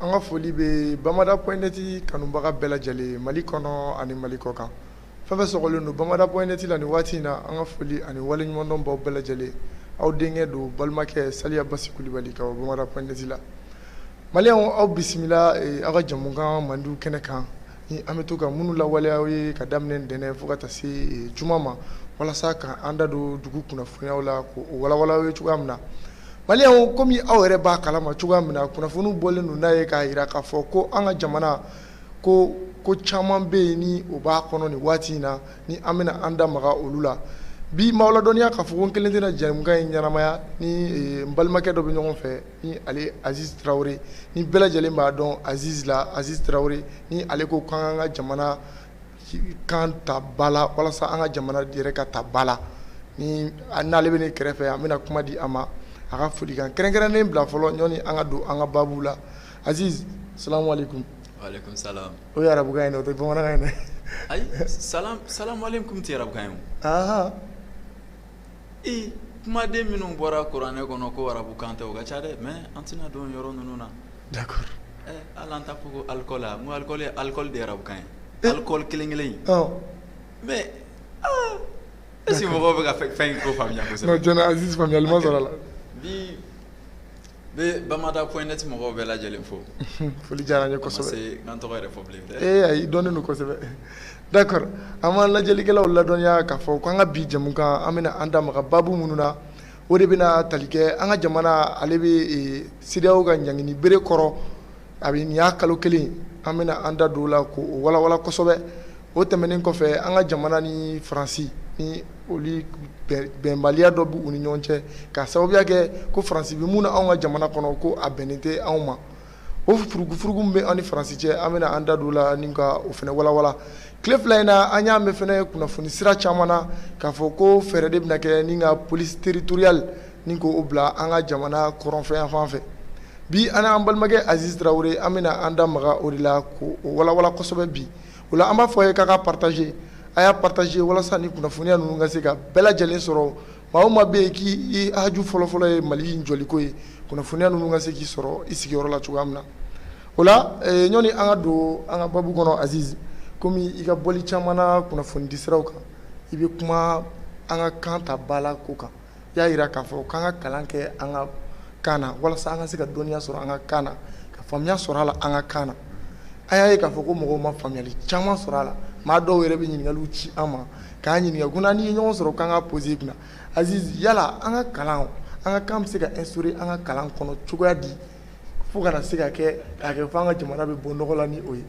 An ka foli bɛ bamada point net kanubaga bɛɛ lajɛlen mali kɔnɔ ani mali kɔkan fɛn o fɛn sɔgɔlen don bamada point net la ni waati in na an ka foli ani waleɲumandɔn b'aw bɛɛ lajɛlen aw denkɛ don balimakɛ saliya basi kulubali ka bɔ bamada point net la maliyɛnw aw bisimila aw ka jamukan mandi kɛnɛ kan ni an bɛ to ka minnu lawaleya aw ye ka daminɛ ntɛnɛn fo ka taa se juma ma walasa ka an da don dugu kunnafoniyaw la k'o walawala aw ye cogoya min na Maliyɛnw kɔmi aw yɛrɛ b'a kala ma cogoya min na kunnafoniw bɔlen don n'a ye k'a jira k'a fɔ ko an ka jamana ko ko caman bɛ yen ni o b'a kɔnɔ nin waati in na ni an bɛna an da maga olu la bi m'aw ladɔnniya k'a fɔ ko n kelen tɛna jamukan in ɲɛnamaya ni n balimakɛ dɔ bɛ ɲɔgɔn fɛ ni ale aziz tarawele ni bɛɛ lajɛlen b'a dɔn aziz la aziz tarawele ni ale ko k'an ka jamana kan ta ba la walasa an ka jamana yɛrɛ ka ta ba la ni n'ale bɛ ne kɛrɛfɛ an bɛna kuma di a ma a ka folikan kɛrɛnkɛrɛnnen bila fɔlɔ ɲɔni an ka don an ka babu la aziz salamu alaikum alaikum salam o ye arabukan ye dɛ o tɛ bamanankan ye dɛ ayi salam salam alaikum tɛ arabukan ye o ee kumaden minnu bɔra kuranɛ kɔnɔ ko arabukan tɛ o ka ca dɛ mais an tɛna don o yɔrɔ ninnu na, d'accord, ɛ hali an t'a fɔ ko alcool wa, n ko alcool ye alcool de ye arabukan ye, alcool kelen kelen in, ɔ, mais aa est ce que mɔgɔw bɛ ka fɛn in ko faamuya kosɛbɛ, non tiɲɛ na Aziz faamuyali ma sɔrɔ a la, bi Bɛ bamada point net mɔgɔw bɛɛ lajɛlen fo unhun foli diyar'an ye kosɛbɛ a ma se ka n tɔgɔ yɛrɛ fɔ bilen dɛ ee ayi i dɔnnen don kosɛbɛ d'accord an b'an lajɛlikɛlaw ladɔnniya k'a fɔ ko an ka bi jamukan an bɛna an da maga baabu minnu na o de bɛna tali kɛ an ka jamana ale bɛ ee CEDEAO ka ɲangini bere kɔrɔ A bɛ nin y'a kalo kelen an bɛna an da don o la k'o walawala kosɛbɛ o tɛmɛnen kɔfɛ an ka jamana ni faransi ni olu bɛnbaliya dɔ b'u ni ɲɔgɔn cɛ k'a sababuya kɛ ko faransi bɛ mun na anw ka jamana kɔnɔ ko a bɛnnen tɛ anw ma o furugufurugu min bɛ anw ni faransi cɛ an bɛna an da don o la ni ka o fana walawala tile fila in na an y'a mɛn fana kunnafoni sira caman na k'a fɔ ko fɛɛrɛ de bɛna kɛ ni ka police territoriale ni k'o bila an ka jamana kɔrɔnfɛ fan fɛ bi an n'an balimakɛ aziz tarawele an bɛna an da maga o de la k'o walawala kosɛbɛ bi o la an b'a fɔ aw ye k'a ka partager a y'a partager walasa ni kunnafoniya ninnu ka se ka bɛɛ lajɛlen sɔrɔ maa o maa bɛ yen k'i haju fɔlɔfɔlɔ ye mali in jɔliko ye kunnafoniya ninnu ka se k'i sɔrɔ i sigiyɔrɔ la cogoya min na o la ɲɔni an ka don an ka babu kɔnɔ aziz kɔmi i ka bɔli caman na kunnafoni di siraw kan i bɛ kuma an ka kan ta ba la ko kan i y'a jira k'a fɔ k'an ka kalan kɛ an ka kan na walasa an ka se ka dɔnniya sɔrɔ an ka kan na ka faamuya sɔrɔ a la an ka kan na an y'a ye k'a fɔ ko mɔgɔw ma faamuyali caman sɔrɔ a la maa dɔw yɛrɛ bɛ ɲininkaliw ci an ma k'an ɲininka ko n'an ye ɲɔgɔn sɔrɔ k'an k'a poser i kunna aziz yala an ka kalan an ka kan bɛ se ka instaurer an ka kalan kɔnɔ cogoya di fo kana se ka kɛ k'a kɛ fo an ka jamana bɛ bɔ nɔgɔ la ni o ye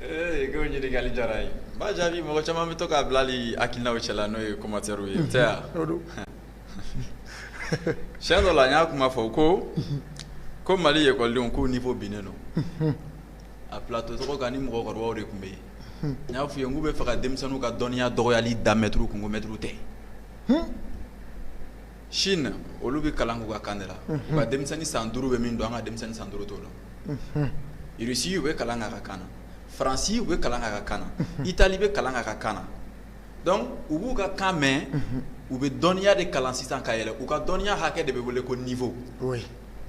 ee k'o ɲininkali diyara n ye n b'a jaabi mɔgɔ caman bɛ to k'a bila hali hakilinaw cɛla n'o ye commentaires ye o tɛ wa o don siyɛn dɔ la n y'a kuma fɔ ko ko mali ekɔlidenw k'u niveau binnen don a plateau tɔgɔ kan ni mɔgɔkɔrɔbaw de tun bɛ yen n y'a f'u ye n k'u bɛ fɛ ka denmisɛnninw ka dɔnniya dɔgɔyali da mɛtiriw kun ko mɛtiriw tɛ Chine olu bɛ kalan k'u ka kan de la, unhun, u ka denmisɛnnin san duuru bɛ min dɔn an ka denmisɛnnin san duuru t'o dɔn, unhun, Russie u bɛ kalan kɛ a ka kan na, France u bɛ kalan kɛ a ka kan na, unhun, Italie bɛ kalan kɛ a ka kan na donc u b'u ka kan mɛn, unhun, u bɛ dɔnniya de kalan sisan ka yɛlɛ u ka dɔnniya hakɛ de bɛ wele ko niveau oui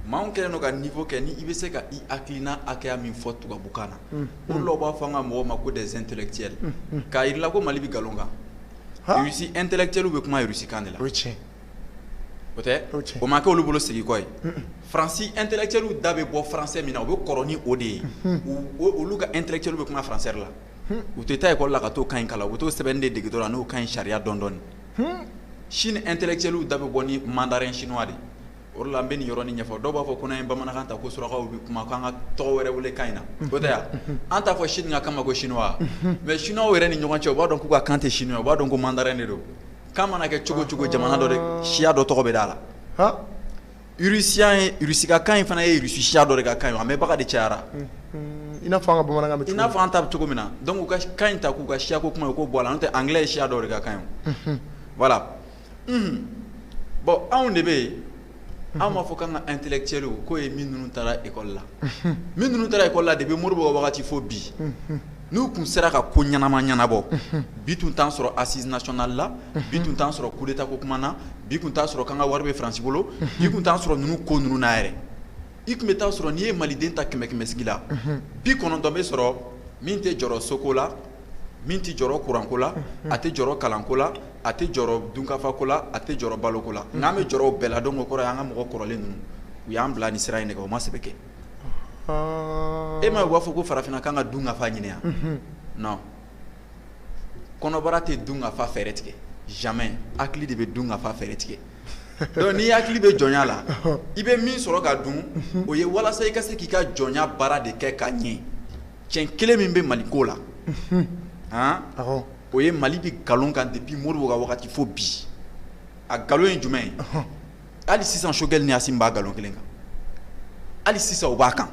mais anw kɛlen don ka niveau kɛ ni i bɛ se ka i hakilina hakɛya min fɔ tubabukan na, unhun, o de la u b'a fɔ an ka mɔgɔw ma ko des intellectuels k'a jira i la ko Mali bɛ nkalon kan Russie intellectuel bɛ kuma Russie kan de la, o ye tiɲɛ ye, o tɛ, o ye tiɲɛ ye, o ma kɛ olu bolo segin kɔ ye, un un, France intellectuel da bɛ bɔ français min na u bɛ kɔrɔ ni o de ye, unhun, olu ka intellectuel bɛ kuma français de la, un, u tɛ taa école la ka t'o kan in kalan u bɛ t'o sɛbɛnni de dege dɔrɔn n'o kan in sariya dɔn dɔɔni, un, Chine intellectuel da bɛ bɔ ni mandarin chinois de ye o de la n bɛ nin yɔrɔnin ɲɛfɔ dɔw b'a fɔ ko n'an ye bamanankan ta ko surakaw bɛ kuma k'an ka tɔgɔ wɛrɛ wele kan in na o tɛ ya an t'a fɔ Chine ka kan ma ko chinois mais chinois yɛrɛ ni ɲɔgɔn cɛ u b'a dɔn k'u ka kan tɛ chinois u b'a dɔn ko mandarin de don k'a mana kɛ cogo cogo jamana dɔ de siya dɔ tɔgɔ bɛ d'a la Russie ka kan in fana ye Russie siya dɔ de ka kan ye a mɛnbaga de cayara i n'a fɔ an ka bamanankan i n'a fɔ an ta bɛ cogo min na donc u ka kan in ta k'u ka siyako kuma ye k'o bɔ a la n'o tɛ anglais ye siya dɔ de ka kan ye voilà bon anw de bɛ yen an b'a fɔ k'an ka intellectuels k'o ye minnu taara ekɔli la minnu taara ekɔli la depuis Modibo wagati fo bi n'u tun sera ka ko ɲɛnama ɲɛnabɔ bi tun t'an sɔrɔ assises nationales la bi tun t'an sɔrɔ coup d'État ko kuma na bi tun t'a sɔrɔ k'an ka wari bɛ France bolo bi tun t'an sɔrɔ ninnu ko ninnu na yɛrɛ i tun bɛ t'a sɔrɔ n'i ye maliden ta kɛmɛ kɛmɛsigi la bi kɔnɔntɔn bɛ sɔrɔ min tɛ jɔrɔ soko la min tɛ jɔrɔ kuranko la a tɛ jɔrɔ kalanko la a tɛ jɔrɔ dunkafa ko la a tɛ jɔrɔ balo ko la n'an bɛ jɔrɔ o bɛɛ la donc o kɔrɔ ye an ka mɔgɔ kɔrɔlen ninnu u y'an bila nin sira in de kan u ma sɛbɛ kɛ e m'a ye u b'a fɔ ko farafinna k'an ka dunkafa ɲini wa non kɔnɔbara tɛ dunkafa fɛɛrɛ tigɛ jamais hakili de bɛ dunkafa fɛɛrɛ tigɛ donc n'i hakili bɛ jɔnya la i bɛ min sɔrɔ ka dun o ye walasa i ka se k'i ka jɔnya baara de kɛ ka ɲɛ tiɲɛ kelen min bɛ Mali ko la han. o ye mali bɛ nkalon kan depuis Modibo ka wagati fo bi a nkalon ye jumɛn ye hali sisan Choguel ni Assimi b'a nkalon kelen kan hali sisan o b'a kan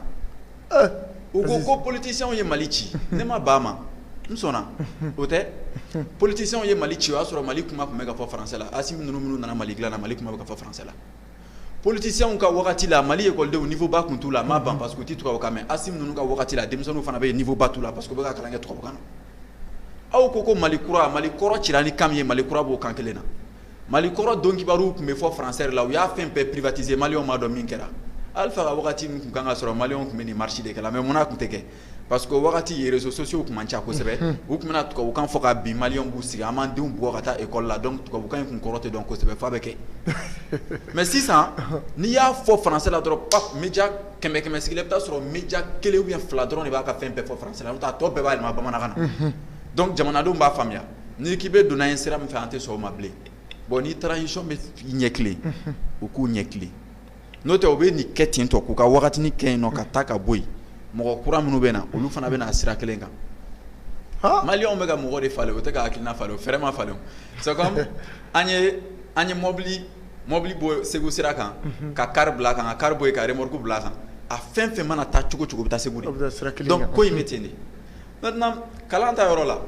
eh, u ko ko politiciens ye mali ci ne ma ban a ma n sɔnna o tɛ politiciens ye mali ci o y'a sɔrɔ mali kuma tun bɛ ka fɔ français la Assimi ninnu minnu nana mali dilan na mali kuma bɛ ka fɔ français la politicienw ka wagati la mali ekɔlidenw niveau ba tun t'u la a ma ban parce que u tɛ tubabukan mɛn Assimi ninnu ka wagati la denmisɛnninw fana bɛ yen niveau ba t'u la parce que u bɛ ka kalan kɛ tubabukan na aw ko ko mali kura mali kɔrɔ cira ni kan min ye mali kura b'o kan kelen na mali kɔrɔ don kibaruw tun bɛ fɔ français la u y'a fɛn bɛɛ privatiser maliyɛnw ma dɔn min kɛra Alpha ka wagati min tun kan ka sɔrɔ maliyɛnw tun bɛ nin marche de kɛ la mais munna tun tɛ kɛ Parce que o wagati in réseaux sociaux tun man ca kosɛbɛ u tun bɛna tubabukan fɔ ka bin maliyɛnw b'u sigi an b'an denw bugɔ ka taa école la donc tubabukan in tun kɔrɔ tɛ dɔn kosɛbɛ f'a bɛ kɛ mais sisan n'i y'a fɔ français la dɔrɔn pa média kɛmɛ kɛmɛ sigi la i bɛ t'a sɔrɔ média kelen ou bien fila dɔrɔn de b'a ka fɛn bɛɛ fɔ français la n'o tɛ a tɔ bɛɛ b'a yɛlɛma bamanankan na donc jamanadenw b'a faamuya n'i k'i bɛ donna in sira min fɛ an tɛ sɔn o ma bilen bon ni transition bɛ ɲɛ tilen u k'u ɲɛ tilen n'o tɛ u bɛ nin kɛ ten tɔ k'u ka wagatinin kɛ yen nɔ ka taa ka bɔ yen mɔgɔ kura minnu bɛ na olu fana bɛna na a sira kelen kan maliyɛnw bɛ ka mɔgɔ de falen o tɛ ka hakilina falen o fɛɛrɛ ma falen an ye an ye mɔbili mɔbili bɔ segu sira kan ka car bila a kan ka car bɔ yen ka remorque bila a kan a fɛn fɛn mana taa cogo cogo bɛ taa segu de ko in bɛ ten de kalan ta yɔrɔ la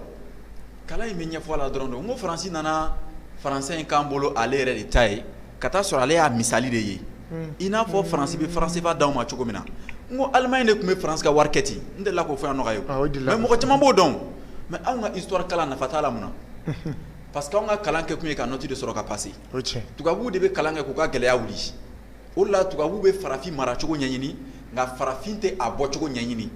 kalan in bɛ ɲɛfɔ a la dɔrɔn don ko faransi nana français in k'an bolo ale yɛrɛ de ta ye ka taa sɔrɔ ale y'a misali de ye i n'a fɔ faransi bɛ franc CFA d'anw ma cogo min na n ko Allemagne de tun bɛ faransi ka wari kɛ ten n delila k'o fɔ yan nɔ ka ye mɔgɔ caman b'o dɔn mais anw ka histoire kalan nafa t'a la munna parce que anw ka kalan kɛkun ye ka note de sɔrɔ ka passer tubabu de bɛ kalan kɛ k'u ka gɛlɛya wuli o la tubabu bɛ farafin maracogo ɲɛɲini nka farafin tɛ a bɔcogo ɲɛɲini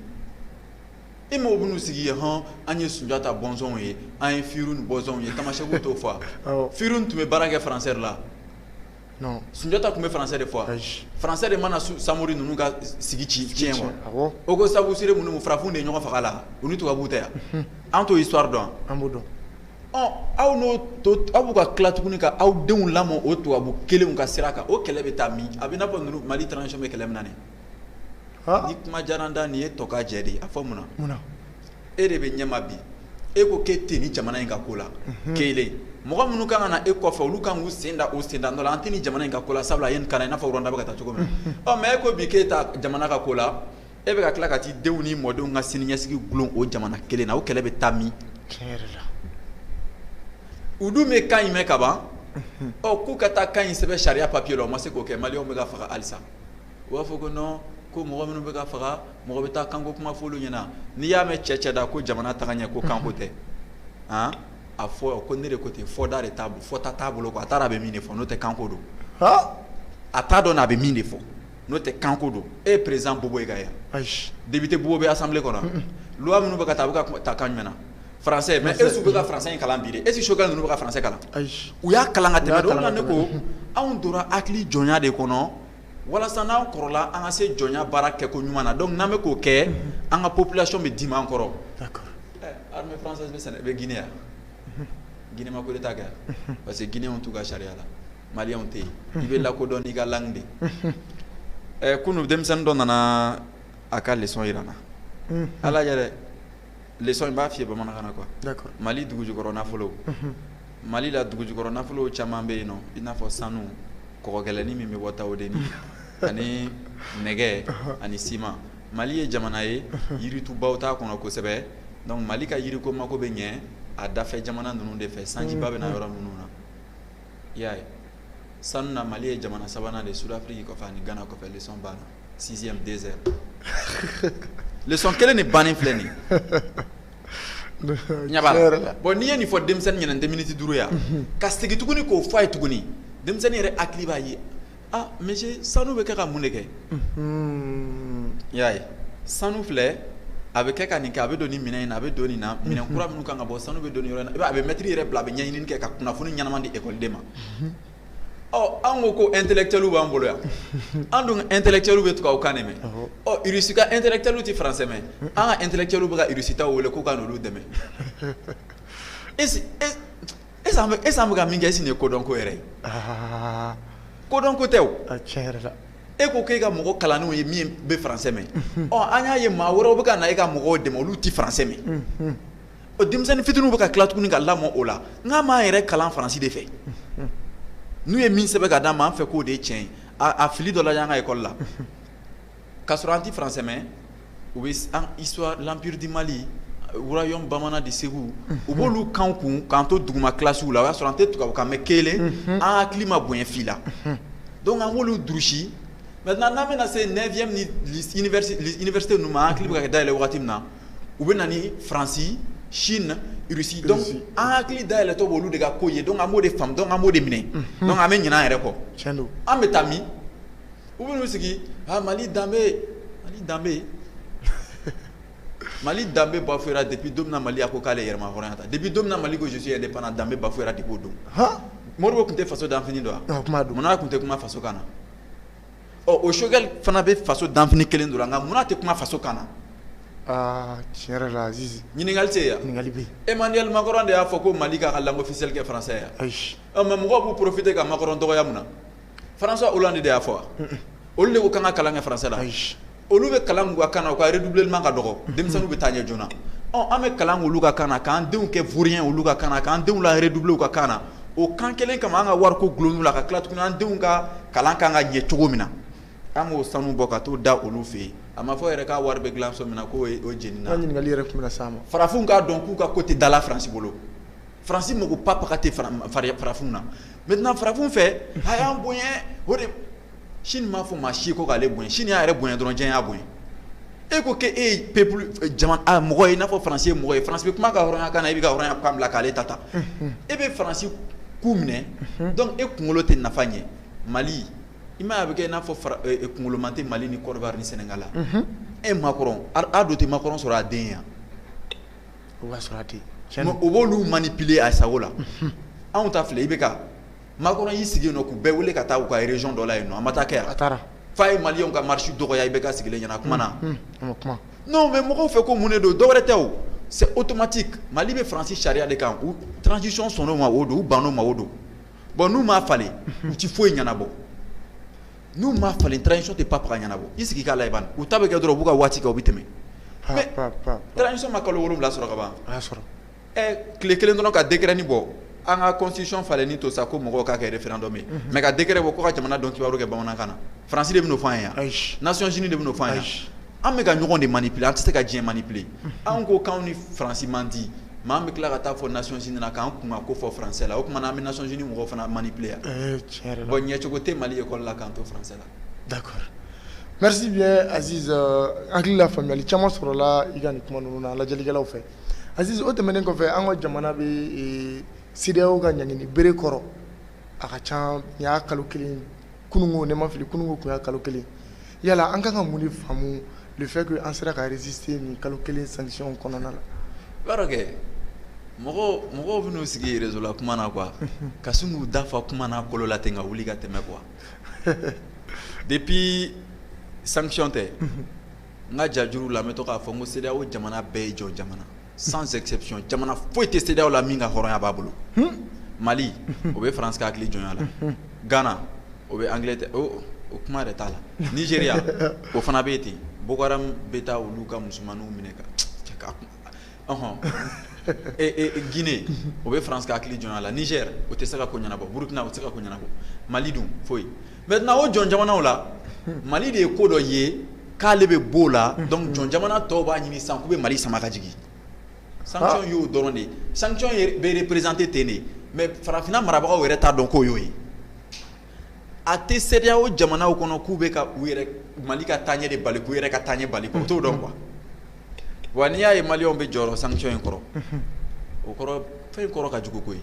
e mɔgɔw bɛn'u sigi yen hɔn an ye Sunjata bɔnsɔnw ye an ye Firun bɔnsɔnw ye Tamasɛkiw t'o fɔ wa Firun tun bɛ baara kɛ français de la non Sunjata tun bɛ français de fɔ wa ayi français de ma na Samori ninnu ka sigi tiɲɛ wa awɔ o ko Sabusire ninnu farafinw de ye ɲɔgɔn faga a la u ni tubabuw tɛ wa an t'o histoire dɔn wa an b'o dɔn ɔ aw n'o to aw b'u ka tila tuguni ka aw denw lamɔ o tubabu kelenw ka sira kan o kɛlɛ bɛ taa min a bɛ i n'a fɔ ninnu Mali transition bɛ kɛlɛ min na nin ye ni kuma diyara n da nin ye tɔkajɛ de a fɔ munna munna e de bɛ ɲɛma bi e ko k'e tɛ ni jamana in ka ko la ke mɔgɔ minnu kan ka na e kɔfɛ olu kan k'u sen da o sen da dɔ la an tɛ ni jamana in ka ko la sabula a ye nin kalan i n'a fɔ Rwanda bɛ ka taa cogo min na mais e ko bi k'e t'a jamana ka ko la e bɛ ka tila ka t'i denw ni mɔdenw ka siniɲɛsigi dulon o jamana kelen na o kɛlɛ bɛ taa min u dun bɛ kan in mɛn kaban ɔ k'u ka taa kan in sɛbɛn sariya papier la o ma se k'o kɛ maliyɛnw bɛ ka faga halisa u b'a fɔ ko non ko mɔgɔ minnu bɛ ka faga mɔgɔ bɛ taa kanko kuma f'olu ɲɛna n'i y'a mɛn cɛ cɛda ko jamana tagaɲɛ ko kanko tɛ han a fɔ ko ne de ko ten fɔda de t'a bolo fɔta t'a bolo quoi a t'a dɔn a bɛ min de fɔ n'o tɛ kanko don a t'a dɔn a bɛ min de fɔ n'o tɛ kanko don e ye président Bobo ye ka ye wa député Bobo bɛ assemblée kɔnɔ wa loi minnu bɛ ka ta a bɛ ka ta kan jumɛn na français mais est-ce que u bɛ ka français in kalan bi de est ce que Choguel ninnu bɛ ka français kalan, ayi, u y'a kalan ka tɛmɛ de o de la ne ko anw donna hakili jɔnya de kɔnɔ walasa n'an kɔrɔla an ka se jɔnya baara kɛko ɲuman na donc n'an bɛ k'o kɛ an ka population bɛ dimi an kɔrɔ, d'accord, ɛ armée française bɛ Séné bɛ Guinée yan Guinée ma coup d'Etat kɛ yan parce que Guinéens t'u ka sariya la Maliens tɛ yen i bɛ lakodɔn n'i ka langue de ye, ɛ kunu denmisɛnnin dɔ nana a ka leçon jira n na, unhun, Ala ɲɛ dɛ lesɔn in b'a f'i ye bamanankan na quoi Mali dugujukɔrɔ nafolo Mali la dugujukɔrɔ nafolo caman bɛ yen nɔ i n'a fɔ sanu kɔgɔgɛlɛnin min bɛ bɔ Tawodenni ani nɛgɛ ani siman Mali ye jamana ye yiritubaw t'a kɔnɔ kosɛbɛ donc Mali ka yiriko mako bɛ ɲɛ a dafɛ jamana ninnu de fɛ sanjiba bɛ na yɔrɔ minnu na i y'a ye sanu na Mali ye jamana sabanan de ye sud Afrique kɔfɛ ani Ghana kɔfɛ lesɔn banna 6e 2 heures lesɔn kelen de bannen filɛ nin ye bon n'i ye nin fɔ denmisɛnnin ɲɛna nin tɛ miniti duuru ye wa ka segin tuguni k'o fɔ a ye tuguni denmisɛnnin yɛrɛ hakili b'a ye aa monsieur sanu bɛ kɛ ka mun de kɛ i y'a ye sanu filɛ a bɛ kɛ ka nin kɛ a bɛ don nin minɛn in na a bɛ don nin na minɛn kura minnu kan ka bɔ sanu bɛ don nin yɔrɔ in na a bɛ mɛtiri yɛrɛ bila a bɛ ɲɛɲini kɛ ka kunnafoni ɲɛnama di ekɔliden ma Ɔ an ko ko intellectuel b'an bolo yan an dun ka intellectuel bɛ tubabukan mɛn Irisi ka intellectuel tɛ faransɛ mɛn an ka intellectuel bɛ ka Irisi taw wele k'u ka n'olu dɛmɛ est-ce an bɛ ka min kɛ est-ce nin ye kodɔn ko yɛrɛ ye kodɔn ko tɛ e ko k'e ka mɔgɔ kalanniw ye min bɛ faransɛ mɛn ɔ an y'a ye maa wɛrɛw bɛ ka na e ka mɔgɔw dɛmɛ olu tɛ faransɛ mɛn o denmisɛnnin fitiniw bɛ ka tila tuguni ka lamɔ o la n k'an b'an yɛrɛ kalan faransi de fɛ n'u ye min sɛbɛn ka d'an ma an fɛ k'o de ye tiɲɛ ye a fili dɔ la y'an ka école la k'a sɔrɔ an tɛ français mɛn u bɛ an histoire l'empire du Mali royaume bamanan de Segu u b'olu k'an kun k'an to duguma classe la o y'a sɔrɔ an tɛ tubabukan mɛn kelen an hakili ma bonya fila donc an b'olu durusi maintenant n'an bɛna se neuvième ni université ninnu ma an hakili bɛ ka dayɛlɛ wagati min na u bɛ na ni Faransi Chine Russie donc an hakili dayɛlɛtɔ b'olu de ka ko ye donc an b'o de faamu donc an b'o de minɛ donc an bɛ ɲinɛ an yɛrɛ kɔ an bɛ taa min u bɛ n'u sigi Mali danbe Mali danbe Mali danbe bafouera depuis don min na Mali a ko k'ale yɛrɛmahɔrɔnya ta depuis don min na Mali ko je suis indépendant danbe bafouera depuis o don Modibo tun tɛ faso danfini don wa munna tun tɛ kuma faso kan na ɔ o Choguel fana bɛ faso danfini kelen don nka munna tɛ kuma faso kan na aa tiɲɛ yɛrɛ la Azizi ɲininkali tɛ yen wa ɲininkali bɛ yen Emmanuel Macron de y'a fɔ ko Mali k'a ka langue officielle kɛ français ye wa ayi ɔ mais mɔgɔw b'u profiter ka Macron dɔgɔya mun na François Hollande de y'a fɔ wa olu de ko k'an ka kalan kɛ français la ayi olu bɛ kalan k'u ka kan na u ka redoublement ka dɔgɔ denmisɛnninw bɛ taa ɲɛ joona ɔ an bɛ kalan k'olu ka kan na k'an denw kɛ vaurien olu ka kan na k'an denw la redoubler u ka kan na o kan kelen kama an ka wari ko dulon n'u la ka tila tuguni an denw ka kalan kan ka ɲɛ cogo min na an k'o sanu bɔ ka t'o da olu fɛ yen a ma fɔ yɛrɛ k'a wari bɛ dilan so min na k'o ye o jenina. An ɲininkali yɛrɛ tun bɛ na s'a ma. Farafinw k'a dɔn k'u ka ko tɛ dala France bolo France mago ba baga tɛ farafinw na maintenant farafinw fɛ a y'an bonya o de Chine m'a fɔ maa si ko k'ale bonya Chine y'a yɛrɛ bonya dɔrɔn diɲɛ y'a bonya e ko k'e ye peuple jamana mɔgɔ ye i n'a fɔ France ye mɔgɔ ye France bɛ kuma a ka hɔrɔnya kan na i b'i ka hɔrɔnya kan bila k'ale ta ta e bɛ France ku minɛ donc e kunkolo tɛ nafa ɲɛ Mali i m'a ye a bɛ kɛ i n'a fɔ kunkoloman tɛ Mali ni Côte d'Ivoire ni Sénégal la e Macron a don tɛ Macron sɔrɔ a den ye wa o b'a sɔrɔ a tɛ yen o b'olu manipuler a sago la anw ta filɛ i bɛ ka Macron y'i sigi nɔ k'u bɛɛ wele ka taa u ka région dɔ la yen nɔ a ma taa kɛ a taara f'a ye Mali ka marche dɔgɔya i bɛ ka sigilen ɲɛna kuma na non mais mɔgɔw fɛ ko mun de don dɔwɛrɛ tɛ o c'est automatique Mali bɛ faransi sariya de kan u transition sɔnn'o ma o don u bann'o ma o don bon n'u m'a falen u tɛ foyi ɲɛnabɔ n'u m'a falen transition tɛ pap ɲɛnabɔ i sigi k'a la u ta bɛ kɛ dɔrɔn u b'u ka waati kɛ u bɛ tɛmɛ transition ma kalo wolowula sɔrɔ kaban sɔrɔ ɛ tile kelen dɔrɔn ka décret nin bɔ an ka constitution falenni to sa ko mɔgɔw k'a kɛ référendum ye mais ka décret bɔ ko ka jamana donkibaru kɛ bamanankan na France de bɛ n'o fɔ an ye wa? Ayi, Nations Unies de bɛ n'o fɔ an ye wa? Ayi, an bɛ ka ɲɔgɔn de manipuler an tɛ se ka diɲɛ manipuler anw ko k'anw ni France man di mais an bɛ tila ka taa fɔ Nations Unies na k'an kunkanko fɔ français la o tuma na an bɛ Nations Unies mɔgɔw fana manipuler wa? Ee tiɲɛ yɛrɛ la, bon ɲɛcogo tɛ Mali école la k'an to français la. D'accord, merci bien Aziz hakili la faamuyali caman sɔrɔla i ka nin kuma ninnu na lajɛlikɛlaw fɛ. Aziz o tɛmɛnen kɔfɛ an ka jamana bɛ ee, CEDEAO ka ɲangini bere kɔrɔ a ka ca nin y'a kalo kelen kununko ni n ma fili kununko tun y'a kalo kelen yala an ka kan ka mun de faamu le fait que an sera ka résister nin kalo kelen sanction kɔnɔna la. i b'a dɔn kɛ mɔgɔw mɔgɔw bɛ n'u sigi réseau la kuma na quoi ka sin k'u da fa kuma lankolon na ten ka wuli ka tɛmɛ quoi depuis sanction tɛ. n ka jajuru la n bɛ to k'a fɔ n ko CEDEAO jamana bɛɛ ye jɔn jamana sans exception jamana foyi tɛ CEDEAO la min ka hɔrɔnya b'a bolo Mali o bɛ France ka hakili jɔnya la Ghana o bɛ Angleterre o kuma yɛrɛ t'a la Nigeria o fana bɛ yen ten Boko Haram bɛ taa olu ka musomaninw minɛ ka ɔhɔn e e Guinée o bɛ France ka hakili jɔnya la Niger o tɛ se ka ko ɲɛnabɔ Burkina o tɛ se ka ko ɲɛnabɔ Mali dun foyi maintenant o jɔn jamanaw la Mali de ye ko dɔ ye k'ale bɛ b'o la donc jɔn jamana tɔw b'a ɲini sisan k'u bɛ Mali sama ka jigin sanction y'o dɔrɔn de ye sanction ye bɛ représenter ten de mais farafinna marabagaw yɛrɛ t'a dɔn k'o y'o ye a tɛ CEDEAO jamanaw kɔnɔ k'u bɛ ka mali ka taa ɲɛ de bali k'u yɛrɛ ka taa ɲɛ bali o t'o dɔn quoi wa n'i y'a ye maliens bɛ jɔrɔ sanction in kɔrɔ o kɔrɔ fɛn in kɔrɔ ka jugu koyi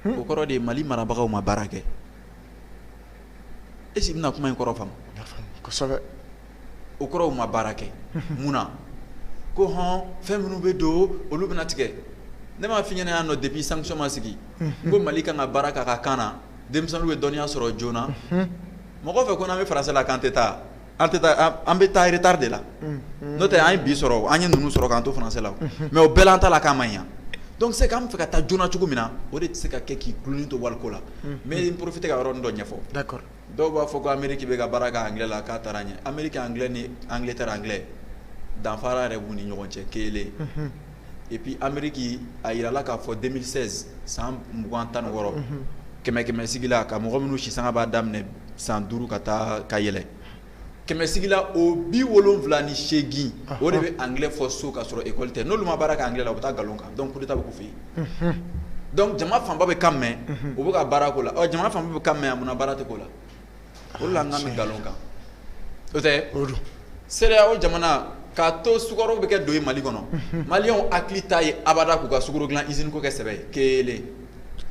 o kɔrɔ de ye mali marabagaw ma baara kɛ est-ce que i bɛna kuma in kɔrɔ faamu o kɔrɔ u ma baara kɛ mun na ko hɔn fɛn minnu bɛ don olu bɛna tigɛ ne m'a fɔ i ɲɛna yan nɔ depuis sanction ma sigi n ko mali kan ka baara k'a ka kan na denmisɛnninw bɛ dɔnniya sɔrɔ joona mɔgɔ fɛ ko n'an bɛ français la k'an tɛ taa an tɛ taa an bɛ taa retard de la n'o tɛ an ye bi sɔrɔ an ye ninnu sɔrɔ k'an to français la mais o bɛɛ la an ta la k'a ma ɲa donc c'est k'an bɛ fɛ ka taa joona cogo min na o de tɛ se ka kɛ k'i dulonnen to waliko la mais n profite ka yɔrɔnin dɔ ɲɛfɔ dɔw b'a fɔ ko ameriki bɛ ka baara kɛ anglais la k'a taara ɲɛ ameriki anglais ni angleterre anglais danfara yɛrɛ b'u ni ɲɔgɔn cɛ kelen et puis ameriki a yirala k'a fɔ 2016 san mugan tan ni wɔɔrɔ kɛmɛ kɛmɛ sigila ka mɔgɔ minnu sisanga b'a daminɛ san duuru ka taa ka yɛlɛ kɛmɛ sigila o bi wolonfila ni seegin o de bɛ anglais fɔ so ka sɔrɔ école tɛ n'olu ma baara kɛ anglais la u bɛ taa nkalon kan donc coup d'Etat bɛ k'u fɛ yen donc jama fanba bɛ kan mɛn u bɛ ka baara k'o la ɔ jamana fanba bɛ kan mɛn a munna baara tɛ k'o la o la an ka mɛɛn nkalon kan o tɛ CEDEAO jamana k'a to sukaro bɛ kɛ don ye mali kɔnɔ maliens hakili t'a ye abada k'u ka sukaro dilan usine ko kɛ sɛbɛ ye kelen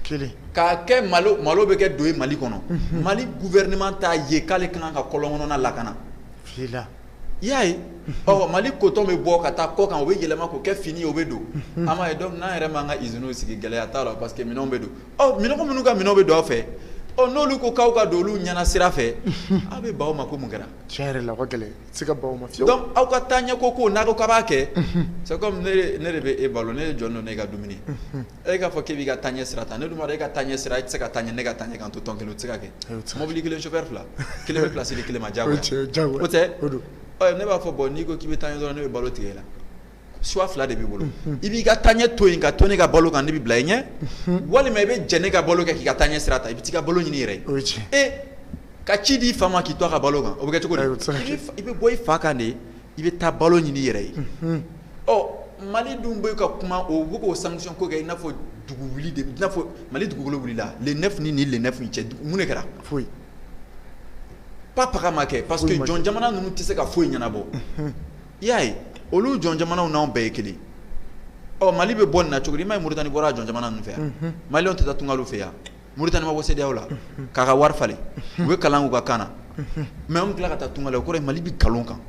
kelen k'a kɛ malo malo bɛ kɛ don ye mali kɔnɔ mali gouvernement t'a ye k'ale ka kan ka kɔlɔn kɔnɔna lakana i y'a ye mali kotɔn bɛ bɔ ka taa kɔ kan o bɛ yɛlɛma k'o kɛ fini o bɛ don an m'a ye donc n'an yɛrɛ ma an ka usinew sigi gɛlɛya t'a la parce que minɛnw bɛ don mɔgɔ minnu ka minɛn bɛ don aw fɛ n'olu ko k'aw ka don olu ɲɛna sira fɛ aw bɛ ban o ma ko mun kɛra tiɲɛ la donc aw ka taa ɲɛ ko ko n'a ko k'a b'a kɛ c'est comme ne de bɛ e balo ne ye jɔn don ne e ka dumuni e k'a fɔ k'i b'i ka taaɲɛ sira ta ne dun b'a dɔn e ka taaɲɛ sira e tɛ se ka taa ɲɛ ne ka taaɲɛ k'an to tɔn kelen o tɛ se ka kɛ mobili kelen chauffeur fila kelen bɛ place di kelen ma diyagoya o tɛ ne b'a fɔ bon n'i ko k'i bɛ taaɲɛ dɔrɔn ne bɛ balo tigɛ i la choix fila de b'i bolo i b'i ka taaɲɛ to yen ka to ne ka balo kan ne bɛ bila i ɲɛ walima i bɛ jɛn ne ka balo kɔ k'i ka taaɲɛ sira ta i bɛ t'i ka balo ɲini i yɛrɛ ye e ka ci di i fa ma k'i to a ka balo kan o bɛ kɛ cogo di i bɛ bɔ i fa kan de i bɛ taa balo ɲini i yɛrɛ ye ɔ mali dun bɛ ka kuma o bɛ k'o sanction ko kɛ i n'a fɔ dugu wuli de i n'a fɔ mali dugukolo wulila le neuf ni le neuf cɛ mun de kɛra foyi papa ma kɛ parce que jɔn jamana ninnu tɛ se ka foyi ɲɛnabɔ i y'a ye olu jɔn jamanaw n'anw bɛɛ ye kelen ɔ mali bɛ bɔ nin na cogo di i m'a ye mauritanie bɔra jɔn jamana ninnu fɛ yan maliens tɛ taa tunga fɛ yan Mauritanie ma bɔ CEDEAO la k'a ka wari falen u bɛ kalan u ka kan na mais an tila ka taa tunga la o kɔrɔ mali bɛ nkalon kan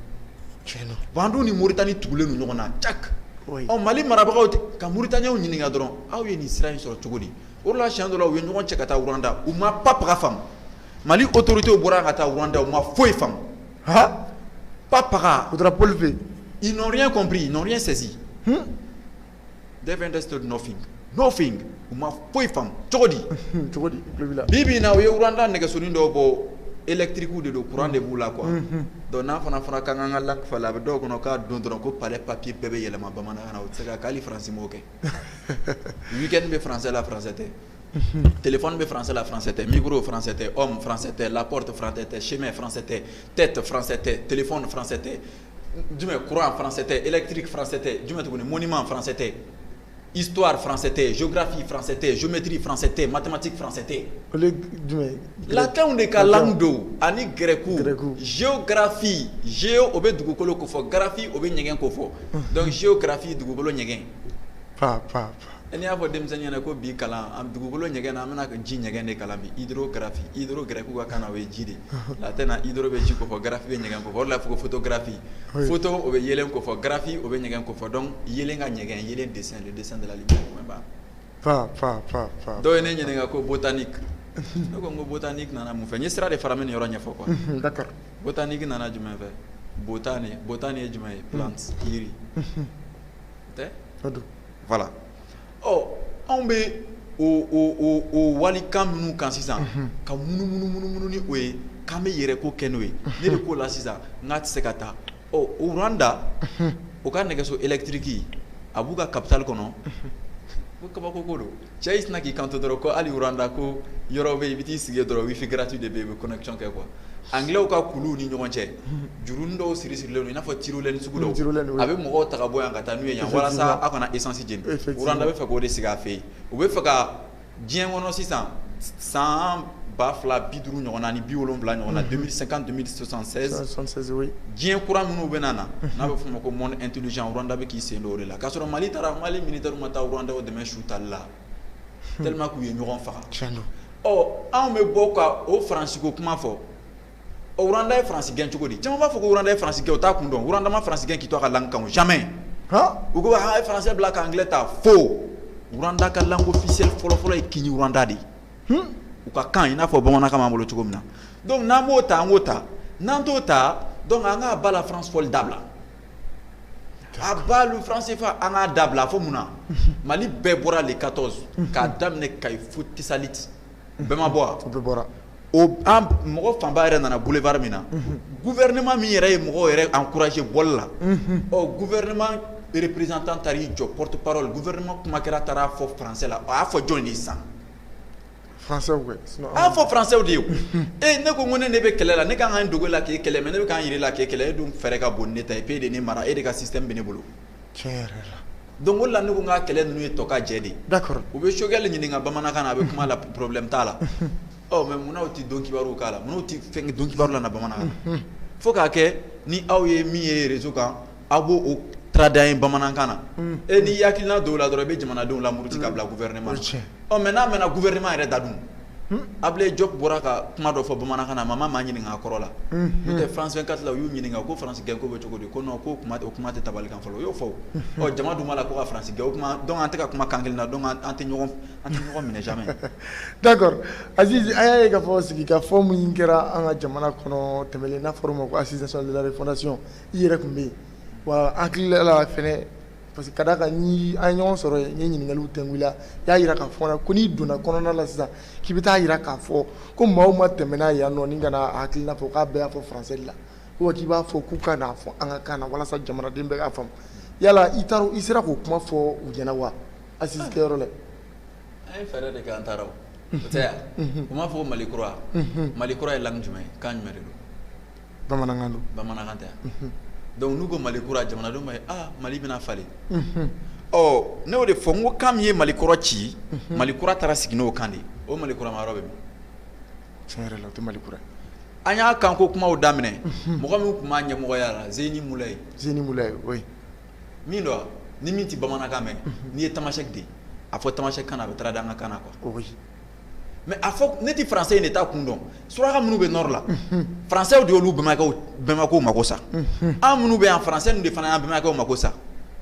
an dun ni Mauritanie tugulen ɲɔgɔn na ta ɔ mali marabagaw ka Mauritaniens ɲininka dɔrɔn aw ye nin sira in sɔrɔ cogo di o la siɲɛ dɔ la u ye ɲɔgɔn cɛ ka taa Rwanda u ma pap faamu mali autorités bɔra ka taa Rwanda u ma foyi faamu pap u tora Paul fɛ yen ils n'ont rien compris ils n'ont rien saisi They've understood nothing. Nothing. U ma foyi faamu. Cogo di? Unhun, cogo di? N tulo b'i la. Bi bi in na, u ye Rwanda nɛgɛsonin dɔw bɔ, electrique de don, courant de b'u la quoi. Unhun. Donc n'a fana fɔra k'an k'an ka langue falen, a bɛ dɔw kɔnɔ k'a don dɔrɔn ko palais papier bɛɛ bɛ yɛlɛma bamanankan na, o tɛ se ka kɛ, hali France m'o kɛ. Week-end bɛ français la, français tɛ. Unhun. Téléphone bɛ français la, français tɛ. Micro, français tɛ. Homme, français tɛ. La porte, français tɛ. Chemin, français tɛ. Tête, français tɛ. Téléphone, français tɛ. jumɛn courant français tɛ électrique français tɛ jumɛn tuguni monument français tɛ histoire français tɛ géographie français tɛ géométrie français tɛ mathématique français tɛ olu ye latinw de ka langue don ani grɛkiw géographie géo o bɛ dugukolo ko fɔ graphie o bɛ ɲɛgɛn ko fɔ donc géographie dugukolo ɲɛgɛn pa pa E y'a fɔ denmisɛnnin ɲɛna ko bi kalan dugukolo ɲɛgɛn na an bɛna ka ji ɲɛgɛn de kalan bi gɛrɛku ka kan o ye ji de a tɛ i bɛ ji kɔ gaffi bɛ ɲɛgɛn kɔ la fo foto gaffi fotɔ o bɛ yɛlɛ kɔ fɔ gaffi o bɛ ɲɛgɛn kɔ fɔ dɔn yɛlɛ ka ɲɛgɛn ye de de deli dɔw ye ne ɲininka ko tan ni ne ko n ko tan ni nana mun fɛ n sira de fara min yɔrɔ ɲɛfɔ kɔ tan ni nana jumɛn fɛ tan tan ni ye jumɛn ye jiri tɛ voilà ɔ anw bɛ o wali kan minnu kan sisan ka munumunu ni o ye k'an bɛ yɛrɛ ko kɛ n'o ye ne de ko la sisan n k'a tɛ se ka taa ɔ Rwanda u ka nɛgɛso électrique a b'u ka capitale kɔnɔ ko kabako ko don Cɛ i sinna k'i kanto dɔrɔn ko hali Rwanda ko yɔrɔ bɛ yen i bɛ t'i sigi dɔrɔn wifi gratuit de bɛ yen i bɛ connexion kɛ quoi angilɛw ka kuluw ni ɲɔgɔn cɛ jurunin dɔw siri sirilen don i n'a fɔ tyrolienne sugu dɔw a bɛ mɔgɔw ta ka bɔ yan ka taa n'u ye yan walasa aw kana essence jeni Rwanda bɛ fɛ k'o de sigi a fɛ yen u bɛ fɛ ka diɲɛ kɔnɔ sisan san ba fila bi duuru ɲɔgɔn ni bi wolonwula ɲɔgɔn na 2050 2070 diɲɛ kura minnu bɛ na n'a bɛ fɔ ma ko monde intelligent Rwanda bɛ k'i sen don o de la k'a sɔrɔ mali taara mali militairew ma taa Rwanda dɛmɛ su tali la tellement k'u ye ɲɔgɔn faga anw bɛ bɔ ka o faransi ko kuma fɔ Ɔ Rwanda ye France gɛn cogo di? Caman b'a fɔ ko Rwanda ye France gɛn, o t'a kun dɔn. Rwanda ma France gɛn k'i to a ka langue kan o jamais han, u ko a ye français bila ka anglais ta faux Rwanda ka langue officielle fɔlɔ-fɔlɔ ye Kinyarwanda de ye, hunn, u ka kan i n'a fɔ bamanankan b'an bolo cogo min na donc n'an b'o ta an k'o ta, n'an t'o ta donc an k'à bas la France fɔli dabila, à bas le franc CFA an k'a dabila fɔ mun na? Mali bɛɛ bɔra le 14 k'a daminɛ Kayi fo Tessalit bɛɛ ma bɔ wa bɛɛ bɔra mɔgɔ fanba yɛrɛ nana boulevard min na gouvernement min yɛrɛ ye mɔgɔ yɛrɛ encourager bɔli la ɔ gouvernement représentant taar'i jɔ porte-parole gouvernement kuma kɛra taar'a fɔ français la a y'a fɔ jɔn de ye sisan a y'a fɔ faransɛw de ye ee ne ko ko ne ne bɛ kɛlɛ la ne ka kan ka n dogo e la k'i kɛlɛ mais ne bɛ ka n jira i la k'i kɛlɛ e dun fɛɛrɛ ka bon ne ta ye parce qu'e de ne mara e de ka système bɛ ne bolo donc o la ne ko n ka kɛlɛ ninnu ye tɔ ka jɛ de d'accord u bɛ Choguel ɲininka bamanankan na a bɛ kuma la problème t'a la mais munna u tɛ donkibaruw k'a la munna u tɛ fɛn donkibaru la bamanankan na fo k'a kɛ ni aw ye min réseau kan aw b'o o traduire bamanankan na e ni hakilina dɔw la dɔrɔn i bɛ jamanadenw lamuruti ka bila gouvernement na mais n'a mɛnna gouvernement yɛrɛ da dun Ablaye Diop bɔra ka kuma dɔ fɔ bamanankan na, a ma maa ɲininka a kɔrɔ la, unhun, n'o tɛ France 24 la u y'u ɲininka ko France gɛn ko bɛ cogo di? ko non ko o kuma tɛ tabali kan fɔlɔ, u y'o fɔ, ɔ jama dun b'a la ko ka France gɛn, o tuma donc an tɛ ka kuma kan kelen na donc an tɛ ɲɔgɔn minɛ jamais d'accord Azizi an y'a ye k'a fɔ sigikafɔ min kɛra an ka jamana kɔnɔ tɛmɛnen n'a fɔra o ma ko assises nationales de la refondation i yɛrɛ tun bɛ yen wa an hakili la fana parce que ka d'a kan ni an ye ɲɔgɔn sɔrɔ yen n ye ɲininkaliw tɛngu i la n y'a jira k'a fɔ la ko n'i donna kɔnɔna la sisan k'i bɛ taa jira k'a fɔ ko maa o maa tɛmɛna yannɔnin ka na a hakilina fɔ k'a bɛɛ y'a fɔ français de la ou k'i b'a fɔ k'u ka n'a fɔ an ka kan na walasa jamanaden bɛɛ k'a faamu yala i taara i sera k'o kuma fɔ u ɲɛna wa assises kɛyɔrɔ la an ye fɛɛrɛ de kɛ an taara o o tɛ yan u m'a fɔ ko mali kura mali kura ye langue jumɛn ye kan jumɛn de don bamanankan don bamanankan tɛ wa donc n'u ko Mali kura jamanadenw b'a ye aa Mali bɛna falen ɔ ne y'o de fɔ n ko kan min ye Mali kɔrɔ ci Mali kura taara sigi n'o kan de ye o Mali kura ma yɔrɔ bɛ min tiɲɛ yɛrɛ la o tɛ Mali kura ye an ye kanko kumaw daminɛ mɔgɔ min tun b'a ɲɛmɔgɔya la Zeïni Moulaye Zeïni Moulaye oui min don wa ni min tɛ bamanankan mɛn n'i ye tamasɛki de ye a fɔ tamasɛki kan na a bɛ traduire an ka kan na quoi oui mais a fɔ ne tɛ français in de ta kun dɔn suraka minnu bɛ nord la faransɛw de y'olu bɛnbakɛw mako sa an minnu bɛ yan français in de fana y'an bɛnbakɛw mako sa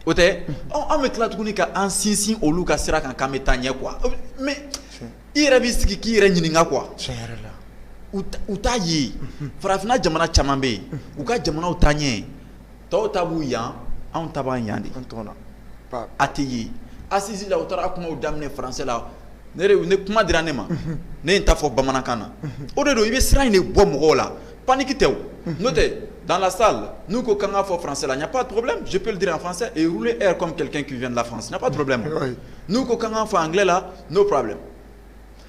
o tɛ an bɛ tila tuguni ka an sinsin olu ka sira kan k'an bɛ taa ɲɛ quoi mais i yɛrɛ b'i sigi k'i yɛrɛ ɲininka quoi u t'a ye farafinna jamana caman bɛ yen u ka jamanaw taa ɲɛ tɔw ta b'u yan anw ta b'an yan de an tɔgɔ na pa a tɛ ye assises la u taara kumaw daminɛ français la ne de ne kuma dira ne ma ne ye n ta fɔ bamanankan na o de don i bɛ siran in de bɔ mɔgɔw la panique tɛ o n'o tɛ dans la salle n'u ko k'an k'a fɔ français la il n'y a pas de problème je peux le dire en français et rouler r comme quelqu'un qui vient de la France il n'y a pas de problème n'u ko k'an k'a fɔ anglais la no problem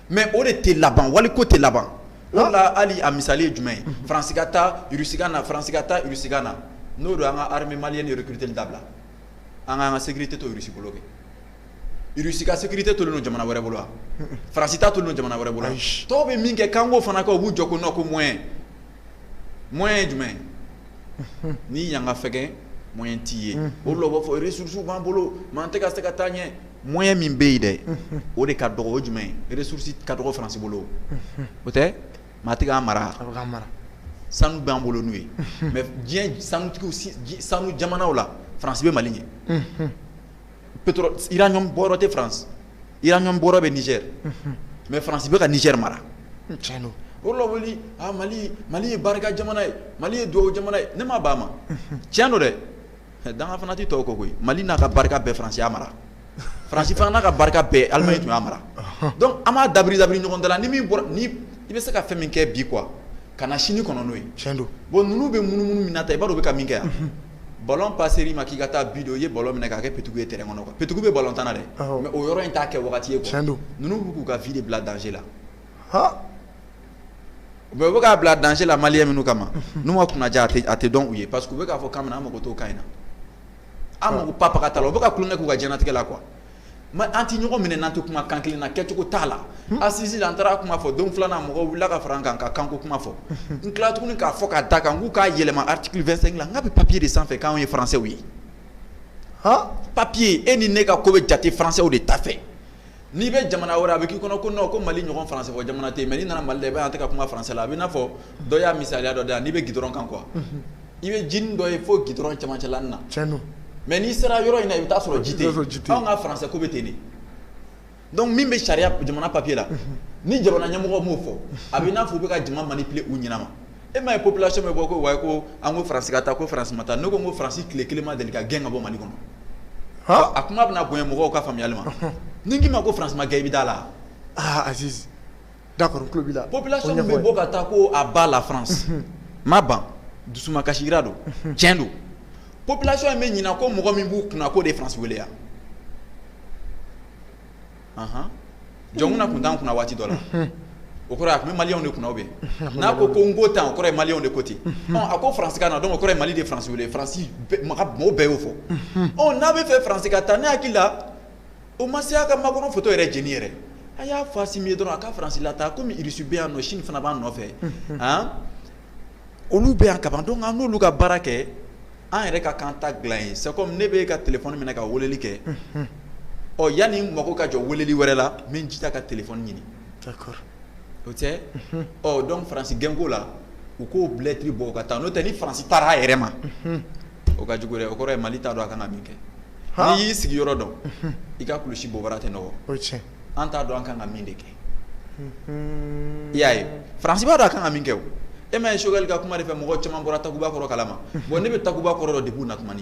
mɛ o de tɛ laban wali ko tɛ laban o la hali a misali ye jumɛn ye faransi ka taa irisi ka na faransi ka taa irisi ka na n'o don an ka armée malienne recruter dabila an k'an ka sécurité to irisi bolo kɛ irisi ka sécurité tolen don jamana wɛrɛ bolo wa faransi ta tolen don jamana wɛrɛ bolo tɔw bɛ min kɛ k'an k'o fana kɛ u b'u jɔ ko non ko moyen moyen ye jumɛn ye ni yan ka fɛgɛn moyen t'i ye o la u b'a fɔ ressources b'an bolo mɛ an tɛ ka se ka taa ɲɛ Moyen min bɛ yen dɛ o de ka dɔgɔ o jumɛn ressources ka dɔgɔ faransi bolo o tɛ maa tɛ k'an mara sanu b'an bolo n'u ye mɛ diɲɛ sanu sanu jamanaw la faransi bɛ mali ɲɛ pétrole uranium bɔyɔrɔ tɛ faransi uranium bɔyɔrɔ bɛ niger mɛ faransi bɛ ka niger mara tiɲɛ don o la wuli mali mali ye barika jamana ye mali ye duwawu jamana ye ne ma ban a ma tiɲɛ don dɛ Danga fana tɛ tɔw kɔ koyi mali n'a ka barika bɛɛ faransi y'a mara faransi fana n'a ka barika bɛɛ alimaɲi tun y'a mara dɔnku an b'a dabiri dabiri ɲɔgɔn da la ni i bɛ se ka fɛn min kɛ bi kuwa kana sini kɔnɔ n'o ye cɛn don bon ninnu bɛ munumunu min na tan i b'a dɔn u bɛ ka min kɛ yan ballon passer i ma k'i ka taa bi don i ye ballon minɛ k'a kɛ petit goal ye terrain kɔnɔ petit goal bɛ ballon tan na dɛ mɛ o yɔrɔ in t'a kɛ waati ye cɛn don ninnu bɛ k'u ka vie de bila danger la u bɛ k'a bila danger la maliyɛn minnu kama n'u ma kunnandiya a tɛ dɔn u ye parce que u bɛ k'a fɔ k'an mako t'o kan na an mako papa ka ta la u bɛ ka kun ne k'u ka diɲɛnatigɛ la quoi an tɛ ɲɔgɔn minɛ n'an tɛ kuma kan kelen na kɛcogo t'a la assise la an taara kuma fɔ don filanan mɔgɔw wulila ka fara an kan ka kanko kuma fɔ n tila tuguni k'a fɔ k'a da kan k'u k'a yɛlɛma article vingt-cinq la nk'a bɛ papiye de sanfɛ kan ye faransɛ ye papiye e ni ne ka ko bɛ jate faransɛw de ta fɛ N'i bɛ jamana wɛrɛ a bɛ k'i kɔnɔ ko nɔn ko mali ɲɔgɔn faransɛ fɔ jamana tɛ yen mɛ n'i nana mali la i b'a ye an tɛ ka kuma faransɛ la a bɛ n'a fɔ dɔ y'a misaliya dɔ da yan n'i bɛ gudɔrɔn kan quoi i bɛ jinin dɔ ye fo gudɔrɔn camancɛ la na mɛ n'i sera yɔrɔ in na i bɛ t'a sɔrɔ ji tɛ anw ka faransɛ ko bɛ ten de dɔnku min bɛ sariya jamana papiye la ni jamana ɲɛmɔgɔ m'o fɔ a bɛ n'a fɔ u bɛ ka jama manipuler u ɲɛnama e m'a ye population bɛ bɔ ko wayi ko an ko faransi ka taa ko faransi ma taa ne ko n ko faransi tile kelen ma deli ka gɛn ka bɔ mali kɔnɔ a kuma bɛna bonya mɔgɔw ka faamuyali ma ni n k'i ma ko faransi ma gɛn i bɛ da la aa aziz d'accord n tulo b'i la population bɛ bɔ ka taa ko à bas la france ma ban dusumakasira don tiɲɛ don population in bɛ ɲinɛ ko mɔgɔ min b'u kunna k'o de ye faransi wele yan jɔnkunda tun t'an kunna waati dɔ la, unhun, o kɔrɔ ye a tun bɛ Maliyɛnw de kunna ou bien n'a ko ko n ko tan o kɔrɔ ye Maliyɛnw de ko ten, unhun, ɔ a ko faransi ka na donc o kɔrɔ ye Mali de ye faransi wele faransi mɔgɔw bɛɛ y'o fɔ, unhun, ɔ n'a bɛ fɛ faransi ka taa ne hakili la o ma se a ka Makɔrɔn foto yɛrɛ jeni yɛrɛ a y'a fɔ Asimi ye dɔrɔn a ka faransi lataa komi irisi bɛ an nɔ sini fana b'an nɔfɛ, unhun, an olu bɛ yan kaban donc an n'olu ka baara kɛ an yɛrɛ ka kan ta dilan ye c'est comme ne b'e ka téléphone minɛ ka weleli kɛ, unhun, ɔ yani n mako ka jɔ weleli wɛrɛ la n bɛ n jija ka téléphone ɲini, d'accord o tɛ, unhun, ɔ donc France gɛnko la u k'o lettre bɔ u ka taa n'o tɛ ni France taara a yɛrɛ ma, unhun, o ka jugu dɛ o kɔrɔ ye Mali t'a dɔn a kan ka min kɛ, han, n'i y'i sigiyɔrɔ dɔn, unhun, i ka kulusi bobara tɛ nɔgɔ, o ye tiɲɛ ye, an t'a dɔn an ka kan ka min de kɛ i y'a ye Faransi b'a dɔn a ka kan ka min kɛ o, e m'a ye Choguel ka kuma de fɛ mɔgɔ caman bɔra Takuba kɔrɔ kalama, bon ne bɛ Takuba kɔrɔ dɔn depuis u na tuma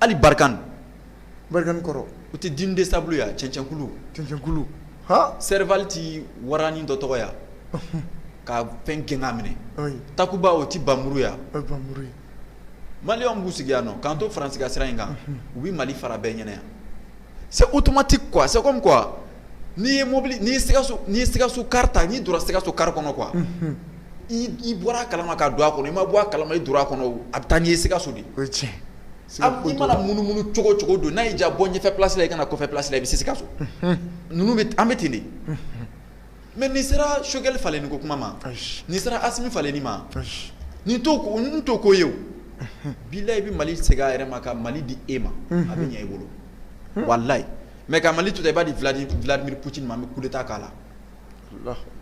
hali Barkhane, Barkhane kɔrɔ, o tɛ dune de sable ye wa cɛncɛnkulu, cɛncɛnkulu, han, Serval tɛ waranin dɔ tɔgɔ ye wa ka fɛn gɛn k'a minɛ, ayi, Takuba o tɛ npanmuru ye wa, o ye npanmuru ye, maliyɛnw b'u sigi yan nɔ k'an to Faransi ka sira in kan u bɛ Mali fara bɛɛ ɲɛna yan C'est automatique quoi c'est comme quoi n'i ye mɔbili n'i ye Sikaso car ta n'i donna Sikaso car kɔnɔ quoi i bɔra a kalama ka don a kɔnɔ i ma bɔ a kalama i donna a kɔnɔ a bɛ taa n'i ye Sikaso de i mana munumunu cogo cogo don n'a y'i diya bɔ ɲɛfɛ place la i ka na kɔfɛ place la i bɛ se Sikaso ninnu bɛ an bɛ ten de Mais n'i sera Choguel falenni ko kuma ma n'i sera Assimi falenni ma nin t'o ko ye bilahi i bɛ Mali segin a yɛrɛ ma ka Mali di e ma a bɛ ɲɛ i bolo walayi mais ka Mali to ten i b'a di Vladimir Poutine ma an bɛ coup d'état k'a la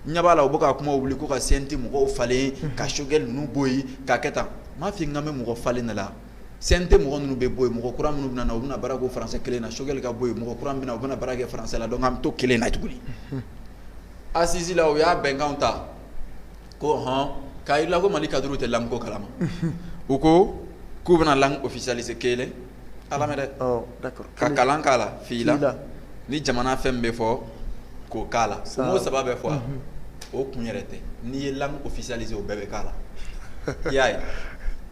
n ɲɛ b'a la u bɛ ka kuma wuli ko ka CNT mɔgɔw falen ka Choguel ninnu bɔ yen k'a kɛ tan n m'a fɔ k'an bɛ mɔgɔ falen de la CNT mɔgɔ ninnu bɛ bɔ yen, mɔgɔ kura minnu bɛna na, u bɛna baara k'o français kelen na. Choguel ka bɔ yen, mɔgɔ kura min bɛ na, o bɛna baara kɛ français la. Donc an bɛ t'o kelen na tuguni. Unhun. Assise la, u y'a bɛnkanw ta, ko ɔnhɔn, k'a jira i la ko Mali cadres tɛ langue ko kalama. Unhun. U ko k'u bɛna langue officialiser kelen, a lamɛn dɛ, awɔ d'accord ka kalan k'a la, fila, fila, ni jamana fɛn min bɛ fɔ K'o k'a la o mot saba bɛ fɔ a la o kun yɛrɛ tɛ n'i ye langue officialiser o bɛɛ bɛ k'a la i y'a ye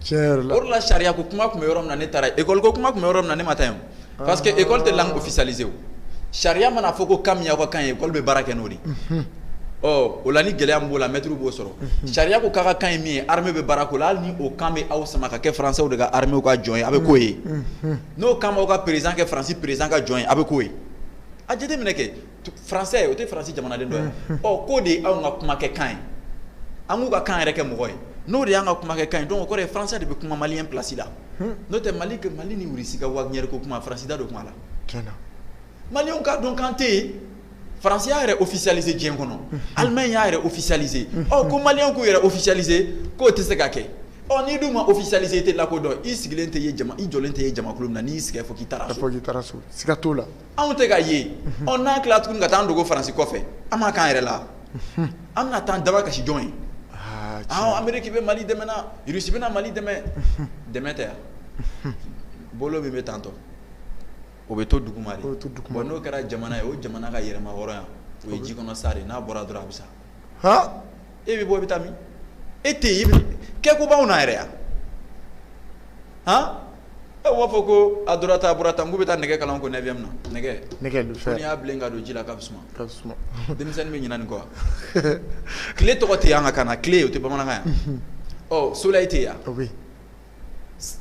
tiɲɛ yɛrɛ la o de la sariya ko kuma tun bɛ yɔrɔ min na ne taara yen école ko kuma tun bɛ yɔrɔ min na ne ma taa yen o parce que école tɛ langue officialiser o sariya mana fɔ ko kan min y'aw ka kan ye école bɛ baara kɛ n'o de ye unhun ɔ o la ni gɛlɛya min b'o la maîtrew b'o sɔrɔ unhun sariya ko k'a' ka kan ye min ye armée bɛ baara k'o la hali ni o kan bɛ aw sama ka kɛ françaisw de ka arméew ka jɔn ye a' bɛ k'o ye unhun n'o kan b'aw ka président kɛ France président ka jɔn ye a' bɛ k'o ye a jateminɛ kɛ français o tɛ France jamanaden dɔ ye ɔ k'o de ye anw ka kumakɛ kan ye an k'u ka kan yɛrɛ kɛ mɔgɔ ye n'o de y'an ka kumakɛ kan ye donc o kɔrɔ ye français de bɛ kuma maliyɛn place la n'o tɛ Mali ka Mali ni Russie ka Wagner ko kuma France da don kuma la tiɲɛna maliyɛnw k'a dɔn k'an tɛ yen France y'a yɛrɛ officialiser diɲɛ kɔnɔ Allemagne y'a yɛrɛ officialiser ɔ ko maliyɛnw k'u yɛrɛ officialiser k'o tɛ se ka kɛ Ɔ n'i dun ma officialiser i tɛ lakodɔn, i sigilen tɛ ye jama, i jɔlen tɛ ye jamakulu min na, n'i y'i sigi yan, i b'a fɔ k'i taara so, i b'a fɔ k'i taara so, siga t'o la, anw tɛ ka ye, unhun, ɔ n'an tilala tuguni ka taa an dogo France kɔfɛ, an m'a k'an yɛrɛ la, unhun, an bɛna taa an damakasi jɔn ye? Aa tiɲɛ, ɔ Amerique bɛ Mali dɛmɛ na, Russie bɛna Mali dɛmɛ, unhun, dɛmɛ tɛ wa? bolo min bɛ tantɔ, o bɛ to duguma de, o bɛ to duguma, bon n'o kɛra jamana ye, o jamana ka yɛrɛmahɔrɔnya, o ye jikɔnɔ sa de ye, n'a bɔra dɔrɔn a bɛ sa. e bɛ bɔ i bɛ taa min e tɛ yen kɛ ko b'anw na yɛrɛ yan e b'a fɔ ko a donna tan a bɔra tan k'u bɛ taa nɛgɛ kalan ko neuvième na nɛgɛ le fer n'i y'a bilen ka don ji la k'a bɛ suma denmisɛnnin bɛ ɲina nin kɔ tile tɔgɔ tɛ an ka kan na tile o tɛ bamanankan yan ɔ soleil tɛ yan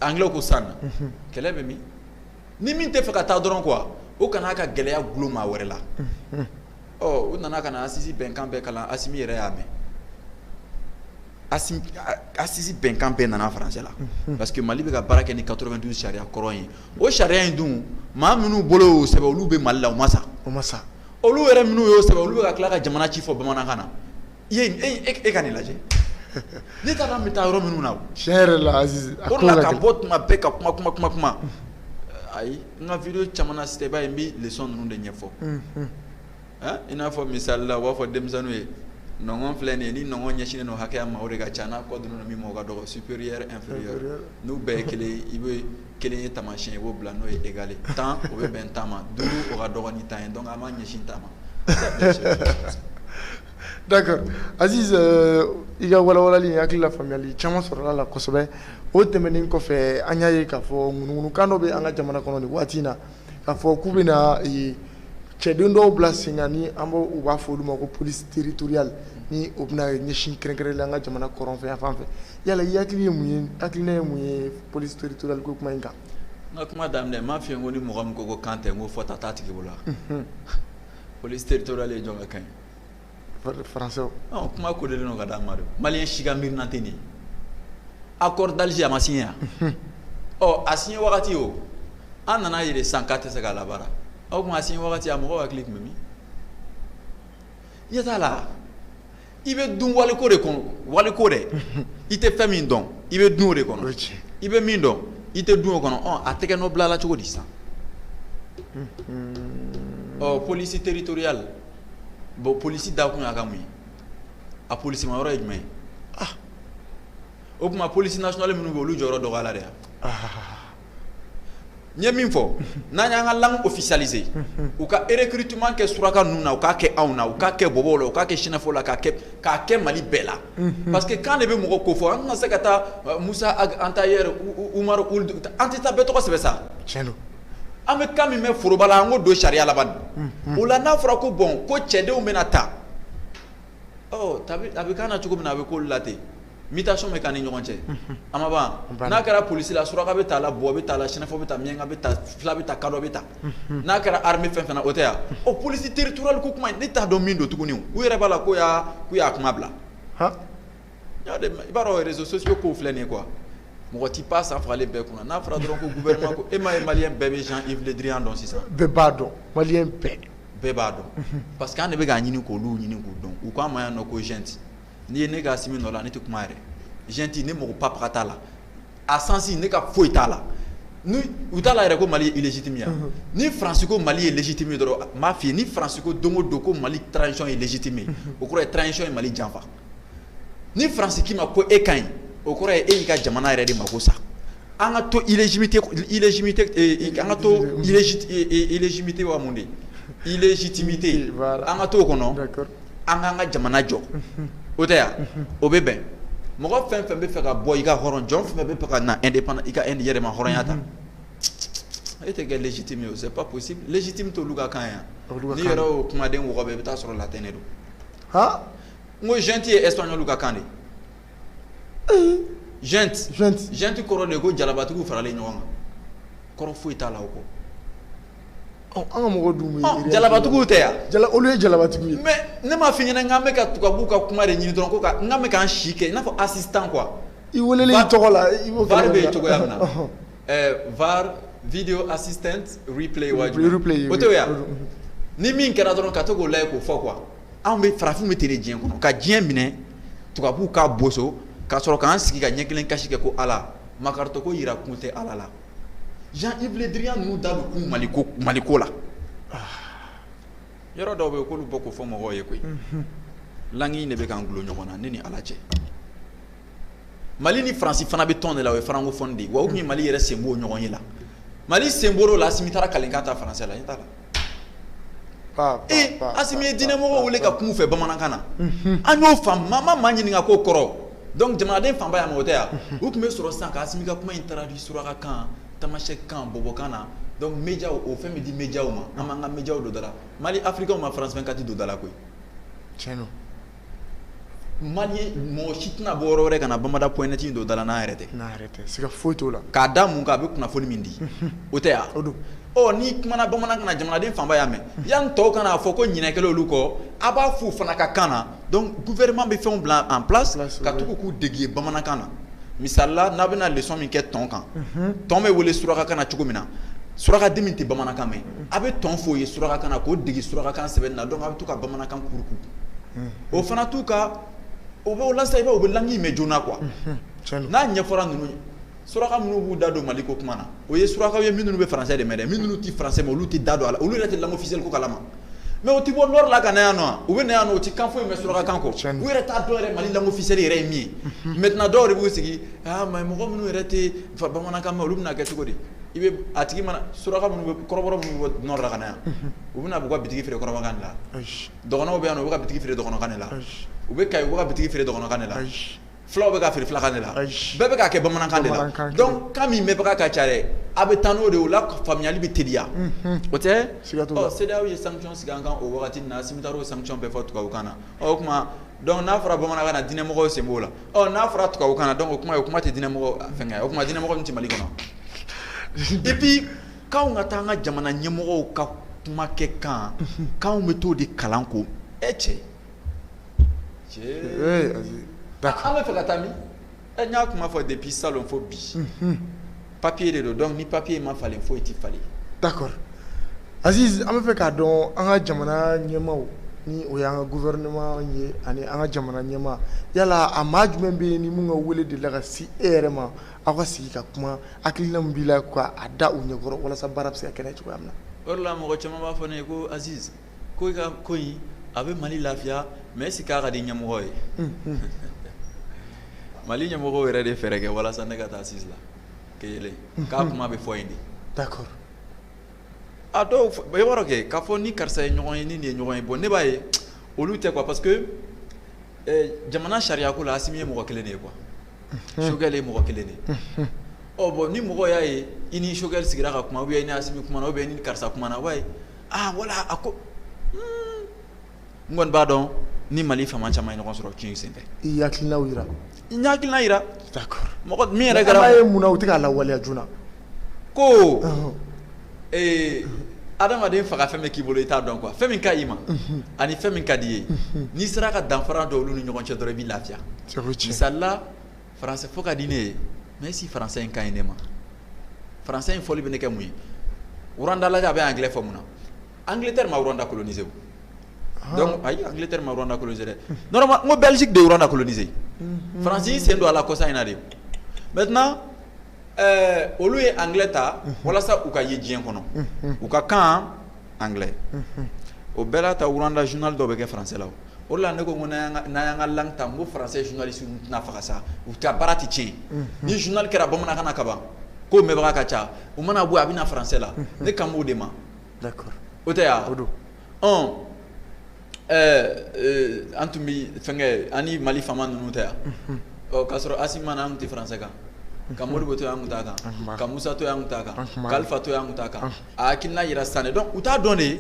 anglais ko sun na kɛlɛ bɛ min ni min t'a fɛ ka taa dɔrɔn quoi o kan'a ka gɛlɛya golo maa wɛrɛ la u nana ka na assises bɛnkan bɛɛ kalan Assimi yɛrɛ y'a mɛn assises bɛnkan bɛɛ nana français la parce que mali bɛ ka baara kɛ ni quatre-vingt-douze sariya kɔrɔ ye o sariya in dun maa minnu bolo y'o sɛbɛn olu bɛ mali la u ma sa olu yɛrɛ minnu y'o sɛbɛn olu bɛ ka tila ka jamana ci fɔ bamanankan na I ye e ka nin lajɛ ne taara n bɛ taa yɔrɔ minnu na sɛ yɛrɛ la ka bɔ tuma bɛɛ ka kuma kuma kuma kuma ayi n ka vidéo caman na site ba n bɛ leçon ninnu de ɲɛfɔ i n'a fɔ misali la u b'a fɔ denmisɛnw ye nɔngɔn filɛ nin ye ni nɔngɔn ɲɛsinnen don hakɛya ma o de ka ca n'a kɔ donnen min ma o ka dɔgɔ supérieur inférieur n'u bɛɛ ye kelen i bɛ kelenya taamasiyɛn i b'o bila n'o ye égal tan o bɛ bɛn tan ma duuru o ka dɔgɔ ni tan ye donc a ma ɲɛsin tan ma D'accord Aziz ɛɛ i ka walawalali in hakili la faamuyali caman sɔrɔl'a la kosɛbɛ o tɛmɛnen kɔfɛ an y'a ye k'a fɔ ŋunuŋunu kan dɔ bɛ an ka jamana kɔnɔ nin waati in na k'a fɔ k'u bɛna ee cɛden dɔw bila sen kan ni an b'o u b'a fɔ olu ma ko police territoriale ni o bɛna ɲɛsin kɛrɛnkɛrɛnnen la an ka jamana kɔrɔnfɛyanfan fɛ yala i hakili ye mun ye hakilina ye mun ye police territoriale ko kuma in kan n ka kuma daminɛ n m'a f'i ye ko ni mɔgɔ min ko ko kan tɛ n ko fɔta t'a tigi bolo wa unhun police territoriale ye jɔn ka kan ye français ɔ kuma kolen don k'a d'an ma de maliyɛn si ka miirina tɛ nin ye accord d'Alger a ma signé wa unhun ɔ a signé wagati o an nana a ye de sisan k'a tɛ se ka labaara o tuma a signé wagati a mɔgɔw hakili tun bɛ min ɲɛ t'a la i bɛ dun waliko de kɔnɔ waliko dɛ i tɛ fɛn min dɔn i bɛ dun o de kɔnɔ o ye tiɲɛ ye i bɛ min dɔn i tɛ dun o kɔnɔ ɔ a tɛgɛ nɔ bilala cogo di sisan ɔ police territoriale bon polisi dakun y'a ka mun ye a polisi ma yɔrɔ ye jumɛn ye ah o tuma polisi nationale minnu bɛ olu jɔyɔrɔ dɔgɔyara de wa ah. n ye min fɔ n'an y'an ka langue officialiser u ka recrutement kɛ suraka ninnu na u k'a kɛ anw na u k'a kɛ bɔbɔw la u k'a kɛ sinafɔw la k'a kɛ k'a kɛ Mali bɛɛ la mhm. parce que kan de bɛ mɔgɔ kofɔ an tɛna se ka taa euh, Musa Ag Antayɛri Umaru Uld an tɛ taa bɛɛ tɔgɔ sɛbɛn sa tiɲɛ don an bɛ kan min mɛn foroba la an k'o don sariya la ban o la n'a fɔra ko bon ko cɛdenw bɛna taa a bɛ kan na cogo min na a bɛ ko la ten mutation bɛ k'an ni ɲɔgɔn cɛ a ma ban n'a kɛra polisi la suraka bɛ taa la buwa bɛ taa la sinafɔ bɛ taa miyanka bɛ taa fila bɛ taa kadɔ bɛ taa n'a kɛra armée fɛn fana o tɛ yan o polisi territoriale ko kuma ne t'a dɔn min don tuguni u yɛrɛ b'a la k'u y'a kuma bila i b'a dɔn réseaux sociaux kow filɛ nin ye quoi mɔgɔ tɛ pan sa fagalen bɛɛ kunna n'a fɔra dɔrɔn ko gouvernement ko e m'a ye maliyɛn bɛɛ bɛ Jean Yves Le Drian dɔn sisan, bɛɛ b'a dɔn maliyɛn bɛɛ, bɛɛ b'a dɔn, unhun, parce que an de bɛ k'a ɲini k'olu ɲini k'u dɔn u k'an ma yan nɔ ko junte n'i ye ne kɛ Asimi nɔ la ne tɛ kuma yɛrɛ, junte ne mago papa ka t'a la a sens ne ka foyi t'a la ni u t'a la yɛrɛ ko Mali ye illégitime ye wa, unhun, ni France ko Mali ye légitime ye dɔrɔn n b'a f'i ye ni France ko don o don ko Mali transition ye légitime ye o kɔrɔ ye transition ye Mali janfa ni faransi k'i ma ko e ka ɲi o kɔrɔ ye e y'i ka jamana yɛrɛ de mako sa an ka to illégitimité an ka to illégitimité wa mun de illégitimité an ka to o kɔnɔ an k'an ka jamana jɔ o tɛ yan o bɛ bɛn mɔgɔ fɛn fɛn b'a fɛ ka bɔ i ka hɔrɔn jɔn fɛn b'a fɛ ka na indépendant i ka yɛrɛmahɔrɔnya ta e tɛ kɛ légitime ye o c'est pas légitime t'olu ka kan yan n'i yɛrɛ o kumaden wɔgɔbɛ i bɛ taa sɔrɔ latin de don n ko junte ye ɛsipaɲɔliw ka kan de ye junte junte junte kɔrɔ de ye ko jalabatigiw faralen ɲɔgɔn kan kɔrɔ foyi t'a la o kɔ an ka mɔgɔ dun bɛ yen jalabatigiw tɛ yan jala olu ye jalabatigiw ye mais ne m'a f'i ɲɛna k'an bɛ ka tubabuw ka kuma de ɲini dɔrɔn ko ka n k'an bɛ k'an si kɛ i n'a fɔ assistant quoi i weleli i tɔgɔ la i b'o kɛ var bɛ yen cogoya min na Eh, var video assistant replay wajugu replay o tɛ yan ni min kɛra dɔrɔn ka to k'o lajɛ k'o fɔ quoi anw bɛ farafinw bɛ ten de diɲɛ kɔnɔ ka diɲɛ minɛ tubabuw k'a boso ka sɔrɔ k'an sigi ka ɲɛ kelen kasi kɛ ko ala makaritɔ ko yira kun tɛ ala la Jean Yves Le Drian ninnu da bɛ kun maliko maliko la yɔrɔ dɔw bɛ yen k'olu bɔ k'o fɔ mɔgɔw ye koyi langue in de bɛ k'an gulo ɲɔgɔn na ne ni ala cɛ mali ni faransi fana bɛ tɔn de la o ye francophone de ye wa u tun ye mali yɛrɛ sen b'o ɲɔgɔn ye la mali sen b'o la asimi taara kalenkan ta faransɛ la i t'a la ee asimi ye diinɛmɔgɔw wele ka kum'u fɛ bamanankan na an y'o faamu maa ma maa ɲininka k'o kɔrɔ donc jamanaden fanba y'a mɛn o tɛ ya u tun bɛ sɔrɔ sisan ka asimi ka kuma in traduit surakakan tamasɛkikan bɔbɔkan na donc médias o fɛn bɛ di médias ma an b'an ka médias don da la mali africain ma France 24 don da la koyi tiɲɛ don Mali mɔgɔ si tɛna bɔ yɔrɔ wɛrɛ ka na bamada point net don da la n'a yɛrɛ tɛ siga foyi t'o la k'a da mun kan a bɛ kunnafoni min di o tɛ ya donc ni kumana bamanankan na jamanaden fanba y'a mɛn yanni tɔw kana a fɔ ko ɲinɛ kɛla olu kɔ a b'a f'u fana ka kan na donc gouvernement bɛ fɛnw bila en place ka tugu k'u dege bamanankan na misali la n'a bɛna leçon min kɛ tɔn kan tɔn bɛ wele surakakan na cogo min na surakaden min tɛ bamanankan mɛn a bɛ tɔn f'o ye surakakan na k'o dege surakakan sɛbɛnni na donc a bɛ to ka bamanankan kuruku, unhun, o fana t'u ka o bɛ walasa i b'a ye u bɛ langue in mɛn joona quoi n'a ɲɛfɔra ninnu ye suraka minnu b'u da don Mali ko kuma na o ye surakaw ye minnu bɛ français de mɛn dɛ minnu tɛ français mɛn olu tɛ da don a la olu yɛrɛ tɛ langue officielle ko kalama mais u tɛ bɔ nord la ka na yan nɔ u bɛ na yan nɔ u tɛ kan foyi mɛn surakakan kɔ u yɛrɛ t'a dɔn yɛrɛ Mali langue officielle yɛrɛ ye min ye maintenant dɔw de b'u sigi aa mais mɔgɔ minnu yɛrɛ tɛ bamanankan mɛn olu bɛna kɛ cogo di i bɛ a tigi mana suraka minnu bɛ kɔrɔbɔrɔ minnu bɔ nord la ka na yan u bɛna b'u ka bitigi feere kɔrɔbɔrɔkan de la dɔgɔnɔw bɛ yan u bɛ ka bitigi feere dɔgɔnɔkan de la u bɛ ka u ka bitigi feere dɔgɔnɔkan de la fulaw bɛ ka feere filakan de la bɛɛ bɛ ka kɛ bamanankan de la donc kan min mɛnbaga ka ca dɛ a bɛ taa n'o de o la faamuyali bɛ teliya o tɛ CEDEAO ye sanction sigi an kan o waati na Asimi taara o sanction bɛɛ fɔ tubabukan na o tuma donc n'a fɔra bamanankan na diinɛmɔgɔ sen b'o la n'a fɔra tubabukan na donc o kuma ye o kuma tɛ diinɛmɔgɔ fɛngɛ ya o kuma diinɛmɔgɔ min tɛ mali kɔnɔ et puis k'anw ka taa an ka jamana ɲɛmɔgɔw ka kuma kɛ kan k'anw bɛ t'o de kalan ko e cɛ an bɛ fɛ ka taa min Ɛ n y'a kuma fɔ depuis salon fo bi. Unhun. Papier de don donc ni papier ma falen foyi tɛ falen. D'accord Aziz an bɛ fɛ k'a dɔn an ka jamana ɲɛmaaw ni o y'an ka gouvernement ye ani an ka jamana ɲɛmaa yala a maa jumɛn bɛ yen ni min ka wele delila ka se e yɛrɛ ma aw ka sigi ka kuma hakilina min b'i la k'a da u ɲɛkɔrɔ walasa baara bɛ se ka kɛ cogoya min na. O de la mɔgɔ caman b'a fɔ ne ye ko Aziz ko i ka ko in a bɛ Mali lafiya mais est ce que k'a ka di ɲɛmɔgɔ ye, unhun, Mali ɲɛmɔgɔ yɛrɛ de ye fɛɛrɛ kɛ walasa ne ka taa Assises la kelen k'a kuma bɛɛ fɔ yen de, d'accord a dɔw i b'a dɔn kɛ k'a fɔ ni karisa ye ɲɔgɔn ye ni nin ye ɲɔgɔn ye bon ne b'a ye olu tɛ quoi parce que ɛ jamana sariya ko la Asimi ye mɔgɔ kelen de ye quoi Choguel ye mɔgɔ kelen de ye, unhun, ɔ bon ni mɔgɔw y'a ye i ni Choguel sigira ka kuma ou bien i ni Asimi kumana ou bien i ni karisa kumana aa voilà a ko humm n kɔni b'a dɔn ni Mali faama caman ye ɲɔgɔn sɔrɔ cɛn in sen fɛ, i y'i hakilinaw jira, n ye hakilina jira, d'accord, mɔgɔ min yɛrɛ kɛra, mais an b'a ye munna u tɛ k'a lawaleya joona, ko, ɔnhɔn, ee adamaden faga fɛn min k'i bolo i t'a dɔn quoi fɛn min ka ɲi i ma, unhun, ani fɛn min ka di i ye, unhun, n'i sera ka danfara don olu ni ɲɔgɔn cɛ dɔrɔn i bɛ lafiya, o ye tiɲɛ ye, misali la français fɔ ka di ne ye mais si français in ka ɲi ne ma français in fɔli bɛ ne kɛ mun ye Rwanda lajɛ a bɛ anglais fɔ mun na Angleterre ma Rwanda coloniser ah. donc ayi Angleterre ma Rwanda coloniser dɛ normalement n ko Belgique de ye Rwanda coloniser Faransi y'i sen don a la kɔsa in na de maintenant olu ye anglais ta walasa u ka ye diɲɛ kɔnɔ u ka kan anglais o bɛɛ la ta Rwanda journal dɔw bɛ kɛ français la o la ne ko ko n'an y'an ka langue ta n ko français journaliste tɛna faga sa u ta baara tɛ tiɲɛ ni journal kɛra bamanankan na kaban ko mɛnbaga ka ca u mana bɔ a bɛ na français la ne kan b'o de ma o tɛ' an tun bɛ fɛnkɛ ani Mali faama ninnu tɛ yan k'a sɔrɔ Assimi ma na an tun tɛ français kan ka Modibo to yan an tun t'a kan ka Musa to yan an tun t'a kan ka Alifa to yan an tun t'a kan a hakilina jira san donc u t'a dɔn de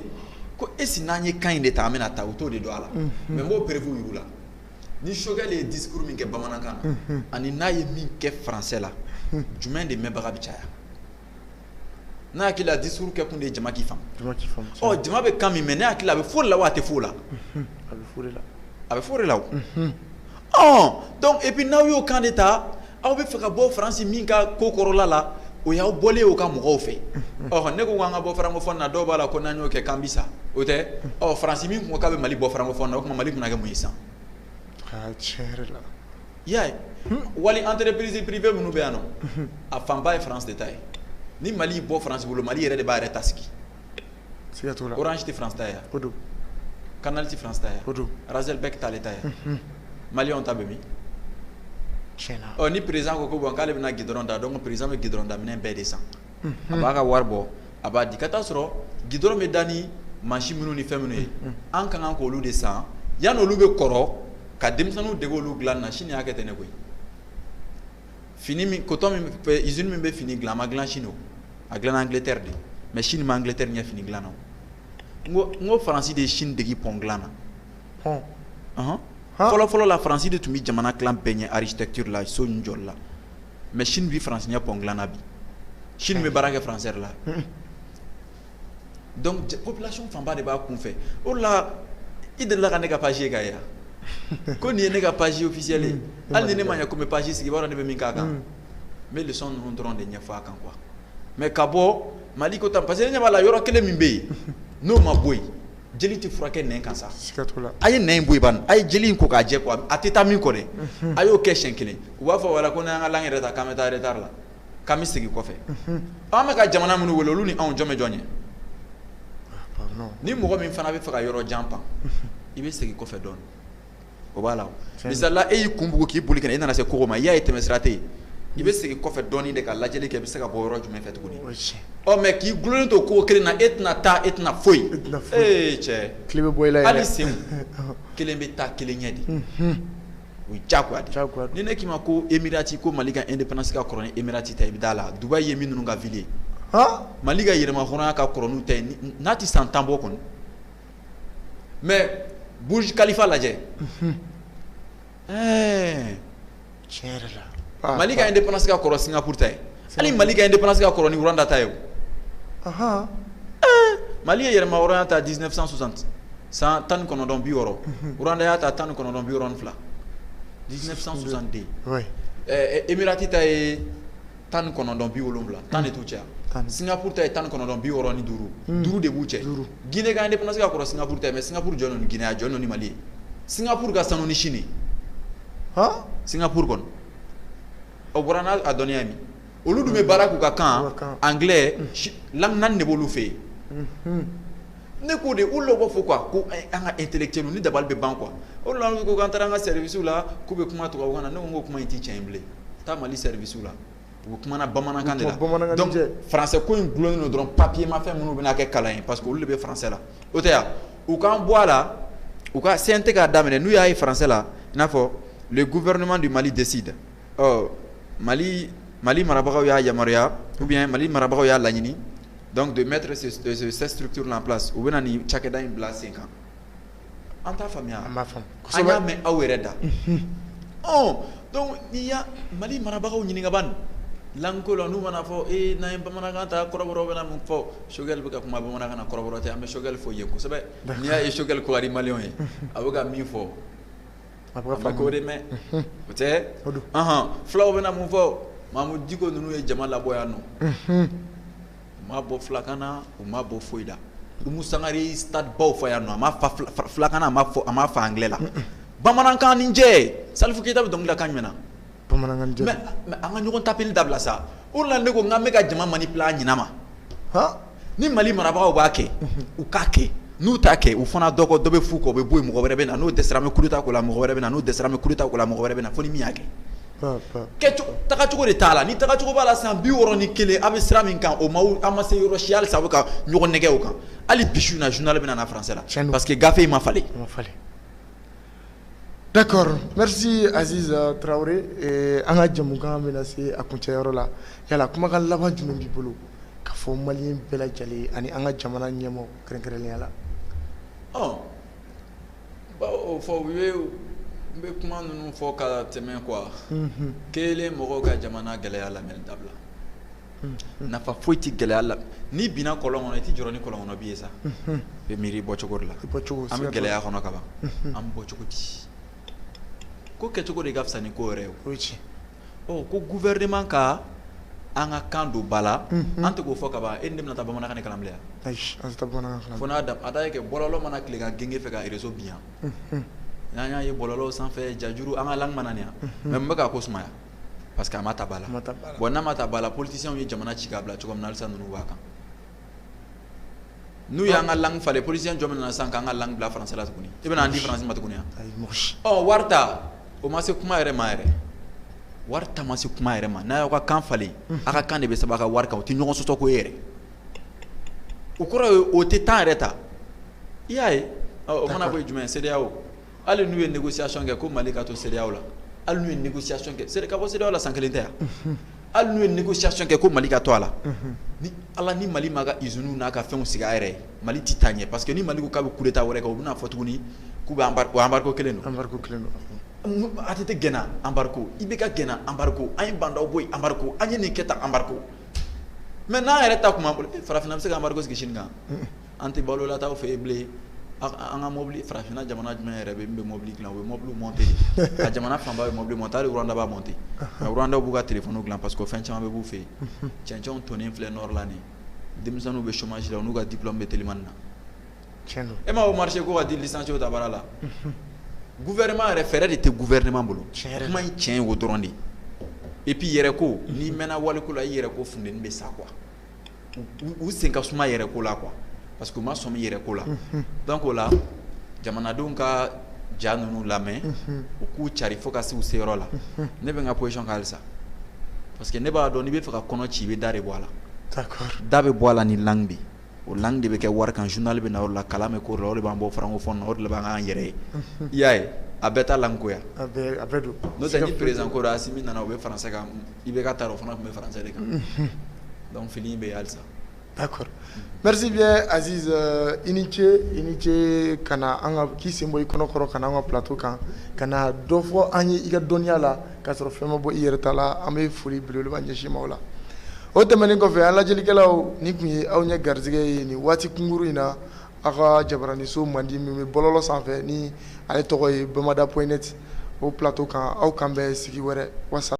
ko est-ce n'an ye kan in de ta an bɛna taa u t'o de dɔn a la mais n b'o preuve yir'u la ni Choguel de ye discours min kɛ bamanankan na ani n'a ye min kɛ français la jumɛn de mɛnbaga bɛ caya N hakili la discours kɛ kun de ye jama k'i faamu jama bɛ kan min mɛn ne hakili la a bɛ fɔ o de la wa a tɛ fɔ o la a bɛ fɔ o de la donc et puis n'aw y'o kan de ta aw bɛ fɛ ka bɔ Faransi min ka ko kɔrɔla la o y'aw bɔlen y'o ka mɔgɔw fɛ ɔ ne ko k'an ka bɔ francophone na dɔw b'a la ko n'an y'o kɛ k'an bi sa o tɛ Faransi min ko k'a bɛ Mali bɔ francophone na o tuma Mali bɛna kɛ mun ye san I y'a ye wali entreprise privée minnu bɛ yan nɔ a fanba ye France de ta ye ni Mali y'i bɔ France bolo Mali yɛrɛ de b'a yɛrɛ ta sigi siga t'o la Orange tɛ France ta ye o don Canal tɛ France ta ye o don Razel-Bec t'ale ta ye maliyɛnw ta bɛ min tiɲɛ na ɔ ni président ko ko bon k'ale bɛna goudron da donc président bɛ goudron da minɛn bɛɛ de san a b'a ka wari bɔ a b'a di ka taa sɔrɔ goudron bɛ da ni machine minnu ni fɛn minnu ye an ka kan k'olu de san yanni olu bɛ kɔrɔ ka denmisɛnninw dege olu dilan na Sini y'a kɛ ten ne koyi fini usine min bɛ fini dilan a ma dilan Sini a dilana Angleterre de mais Sini bɛ Angleterre ɲɛ fini dilan na n ko Faransi de ye Sini dege pɔn dilan na fɔlɔfɔlɔ la Faransi de tun bɛ jamana dilan bɛɛ ɲɛ architecture la so ni jɔli la mais Chine bɛ Faransi ɲɛ pont dilan na bi Chine bɛ baara kɛ français la donc population fanba de b'a kun fɛ o la i delila ka ne ka page ka yan ko nin ye ne ka page officielle ye hali ni ne ma ɲɛ ko n bɛ page sigi i b'a dɔn ne bɛ min k'a kan n bɛ leçon ninnu dɔrɔn de ɲɛfɔ a kan quoi mais ka bɔ mali ko tan parce que ne ɲɛ b'a la yɔrɔ kelen min bɛ yen n'o ma bɔ yen jeli tɛ furakɛ nɛn kan sa, siga t'o la, a ye nɛn in bɔ yen bani, a ye joli in ko k'a jɛ quoi a tɛ taa min kɔ dɛ, unhun, a y'o kɛ siɲɛ kelen u b'a fɔ wala ko n'an y'an ka langue yɛrɛ ta k'an bɛ taa retard la k'an bɛ segin kɔfɛ, unhun, ɔ an bɛ ka jamana minnu wele olu ni anw jɔn bɛ jɔn ɲɛ? ni mɔgɔ min fana bɛ fɛ ka yɔrɔ jan pan i bɛ segin kɔfɛ dɔɔnin o b'a la misali la e y'i kun bugu k'i boli i nana se kogo ma i y'a ye tɛmɛsira tɛ yen i bɛ segin kɔfɛ dɔɔnin de ka lajɛli kɛ i bɛ se ka bɔ yɔrɔ jumɛn fɛ tuguni mais k'i gulonnen to kogo kelen na e tɛna taa e tɛna foyi e cɛ tile bɛ bɔ i la yɛrɛ hali sen kelen bɛ taa kelen ɲɛ de o ye diyagoya de ni ne k'i ma ko Emirati ko mali ka indépendance ka kɔrɔ ni Emirati ta i bɛ da a la Dubaï ye minnu ka ville ye mali ka yɛrɛma hɔrɔnya ka kɔrɔ n'u ta ye n'a tɛ san tan bɔ kɔni mais Burj Khalifa lajɛ mali ka indépendance ka kɔrɔ singapuru ta ye hali mali ka indépendance ka kɔrɔ ni Rwanda ta ye mali ye yɛrɛma hɔrɔnya ta dix-neuf cent soixante san tan ni kɔnɔntɔn bi wɔɔrɔ Rwanda y'a ta tan ni kɔnɔntɔn bi wɔɔrɔ ni fila dix-neuf cent soixante-deux emirati ta ye tan ni kɔnɔntɔn bi wolonwula tan de t'u cɛ singapuru ta ye tan ni kɔnɔntɔn bi wɔɔrɔ ni duuru hmm. duuru de b'u cɛ gine ka indépendance ka kɔrɔ singapuru ta ye mais singapuru jɔlen ni gine a jɔlen ni mali ye singapuru ka sanu ni chine han singapuru kɔni o bɔra n'a a dɔnniya min olu dun bɛ baara k'u ka kan anglais hmm. langue naani de b'olu fɛ yen hmm. ne k'o de olu b'a fɔ quoi ko eh, an ka intellectuel ni dabali bɛ ban quoi olu la ko k'an taara an ka service la k'u bɛ kuma tubabukan na ne ko n ko kuma in tɛ tiɲɛ ye bilen taa mali service la u bɛ kuma na bamanankan de la donc français ko in gulonnen don dɔrɔn papier ma fɛn minnu bɛna kɛ kalan ye parce que olu de bɛ français la o tɛ yan u k'an bɔ a la u ka CNT k'a daminɛ n'u y'a ye français la i n'a fɔ le gouvernement du Mali décide ɔ Mali Mali marabagaw y'a yamaruya ou bien Mali marabagaw y'a laɲini donc de mettre ce ce cette structure là en place u bɛna nin cakɛda in bila sen kan an t'a faamuya an b'a faamu kosɛbɛ an y'a mɛn aw yɛrɛ da unhun ɔɔ donc n'i y'a Mali marabagaw ɲininka ban langue ko la n'u mana fɔ ee n'an ye bamanankan ta kɔrɔbɔrɔw bɛna mun fɔ Choguel bɛ ka kuma bamanankan na kɔrɔbɔrɔ tɛ an bɛ Choguel fo yen kosɛbɛ d'accord n'i y'a ye Choguel ko ka di maliyɛnw ye unhun a bɛ ka min fɔ A bɛ k'o de mɛn o tɛ fulaw bɛna mun fɔ Mahmoud Dicko ninnu ye jama labɔ yan nɔ u ma bɔ fulakan na u ma bɔ foyi la Umu Sangare ye stade baw fa yan nɔ a ma fa fulakan na a ma fa anglais la bamanankan ni jɛ Salif Keita bɛ dɔnkili da kan jumɛn na bamanankan jɛ don, mais an ka ɲɔgɔn tapeli dabila sa, o de la ne ko k'an bɛka jama manipuler a ɲɛnama, han, ni Mali marabagaw b'a kɛ, unhun, u k'a kɛ, n'u t'a kɛ u fana dɔ kɔ, dɔ bɛ f'u kɔ, o bɛ bɔ yen, mɔgɔ wɛrɛ bɛ na, n'o dɛsɛra an bɛ coup d'Etat k'o la, mɔgɔ wɛrɛ bɛ na, n'o dɛsɛra an bɛ coup d'Etat k'o la, mɔgɔ wɛrɛ bɛ na, fo ni min y'a kɛ, pa pa, kɛcogo, tagacogo de t'a la, ni tagacogo b'a la san 61 aw bɛ sira min kan o ma, aw ma se yɔrɔ si halisa aw bɛ ka ɲɔgɔn nɛgɛn o kan, hali bi su in na journal bɛna na français la, tiɲɛ don, parce que gafe in ma falen, a ma falen. D'accord merci Aziz Traoré an ka jamukan bɛna se a kuncɛyɔrɔ la yala kumakan laban jumɛn b'i bolo ka fɔ maliyɛn bɛɛ lajɛlen ani an ka jamana ɲɛmɔgɔ kɛrɛnkɛrɛnnenya la ɔ n b'o fɔ u ye n bɛ kuma ninnu fɔ ka tɛmɛ quoi kelen mɔgɔw ka jamana gɛlɛya lamɛnni dabila nafa foyi tɛ gɛlɛya la n'i binna kɔlɔn kɔnɔ i tɛ jɔrɔ ni kɔlɔn kɔnɔ bin ye sa i bɛ miiri bɔcogo de la an bɛ gɛlɛya kɔnɔ ka ban an bɛ bɔ cogo di ko kɛcogo de ka fisa ni ko yɛrɛ ye o ko gouvernement ka an ka kan don ba la an tɛ k'o fɔ ka ban e ni ne bɛna taa bamanankan kalan bilen yan fo n'a da a da kɛ bɔlɔlɔ mana tile ka genge fɛ ka réseau bi yan n'an y'a ye bɔlɔlɔ sanfɛ jajuru an ka langue yan mais mun bɛ k'a ko suma Parce que a ma ta ba la bon n'a ma ta ba la politiciens ye jamana ci k'a bila cogo min na halisa ninnu b'a kan n'u y'an ka langue falen politicien jɔn bɛ na sisan k'an ka langue bila français la tuguni i bɛna an di français ma tuguni ɔ wari ta o ma se kuma yɛrɛ ma yɛrɛ wari ta ma se kuma yɛrɛ ma n'a y'aw ka kan falen aw ka kan de bɛ sɛbɛn aw ka wari kan o tɛ ɲɔgɔn sɔsɔ ko ye yɛrɛ o kɔrɔ ye o tɛ temps yɛrɛ ta i y'a ye o mana bɔ yen jumɛn CEDEAO hali n'u ye négociation kɛ ko Mali ka to CEDEAO la hali n'u ye négociation kɛ c'est à dire ka bɔ CEDEAO la san 1 tɛ a unhun hali n'u ye négociation kɛ ko Mali ka to a la unhun ni Ala ni Mali m'a ka usines n'a ka fɛnw sigi a yɛrɛ ye Mali ti taa ɲɛ parce que ni Mali ko k'a be coup d'Etat wɛrɛ kɛ u ben'a fɔ tuguni k'u be embargo embargo 1 don embargo 1 don unhun un ATT gɛnna embargo IBK gɛnna embargo an ye Ba Ndaw bɔ yen embargo an ye nin kɛ tan embargo mais n'an yɛrɛ ta tun b'an bolo e farafinna an be se ka embargo sigi Chine kan un un An tɛ balo lataw fɛ yen bilen, an ka mɔbili farafinna jamana jumɛn yɛrɛ bɛ yen min bɛ mɔbili dilan u bɛ mɔbiliw monter de, a jamana fanba bɛ mɔbili monter hali Rwanda b'a monter mais Rwanda b'u ka telephone dilan parce que o fɛn caman bɛ b'u fɛ yen, cɛncɛnw tonnen filɛ nord la nin ye, denmisɛnninw bɛ chomage la u n'u ka diplome bɛ telimani na, tiɲɛ don, e m'a ye marché ko ka di licenciés ta baara la, unhun, gouvernement yɛrɛ fɛɛrɛ de tɛ gouvernement bolo, tiɲɛ yɛrɛ la, kuma in tiɲɛ ye o dɔrɔn de ye et puis yɛrɛ ko n'i mɛɛnna waliko la i yɛrɛ ko funteni bɛ sa quoi u sen ka suma yɛrɛ ko la quoi parce que u ma sɔmi yɛrɛ ko la unhun donc o la jamanadenw k'a ja ninnu lamɛn unhun u k'u cari fo ka se u seyɔrɔ la unhun ne bɛ n ka position kan halisa parce que ne b'a dɔn n'i bɛ fɛ ka kɔnɔ ci i bɛ da de bɔ a la d'accord da bɛ bɔ a la ni langue de ye o langue de bɛ kɛ wari kan journal bɛ na o de la kalan bɛ k'o de la o de b'an bɔ francophone na o de la b'an k'an yɛrɛ ye unhun i y'a ye a bɛɛ t'a langue ko ye a a bɛɛ a bɛɛ don n'o tɛ ni président ko don Asimi nana o bɛ français kan IBK taara o fana tun bɛ français de kan donc fili in bɛ yen halisa merci bien Aziz i ni ce i ni ce ka na an ka k'i sen bɔ i kɔnɔkɔrɔ ka na an ka plateau kan ka na dɔ fɔ an ye i ka dɔnniya la ka sɔrɔ fɛn ma bɔ i yɛrɛ ta la an bɛ foli belebeleba ɲɛsin i ma o la o tɛmɛnen kɔfɛ an lajɛlikɛlaw nin tun ye aw ɲɛ garisɛgɛ ye nin waati kunkurun in na aw ka jabaraninso mandi min bɛ bɔlɔlɔ sanfɛ ni ale tɔgɔ ye bamada point net o plateau kan aw k'an bɛn sigi wɛrɛ wasa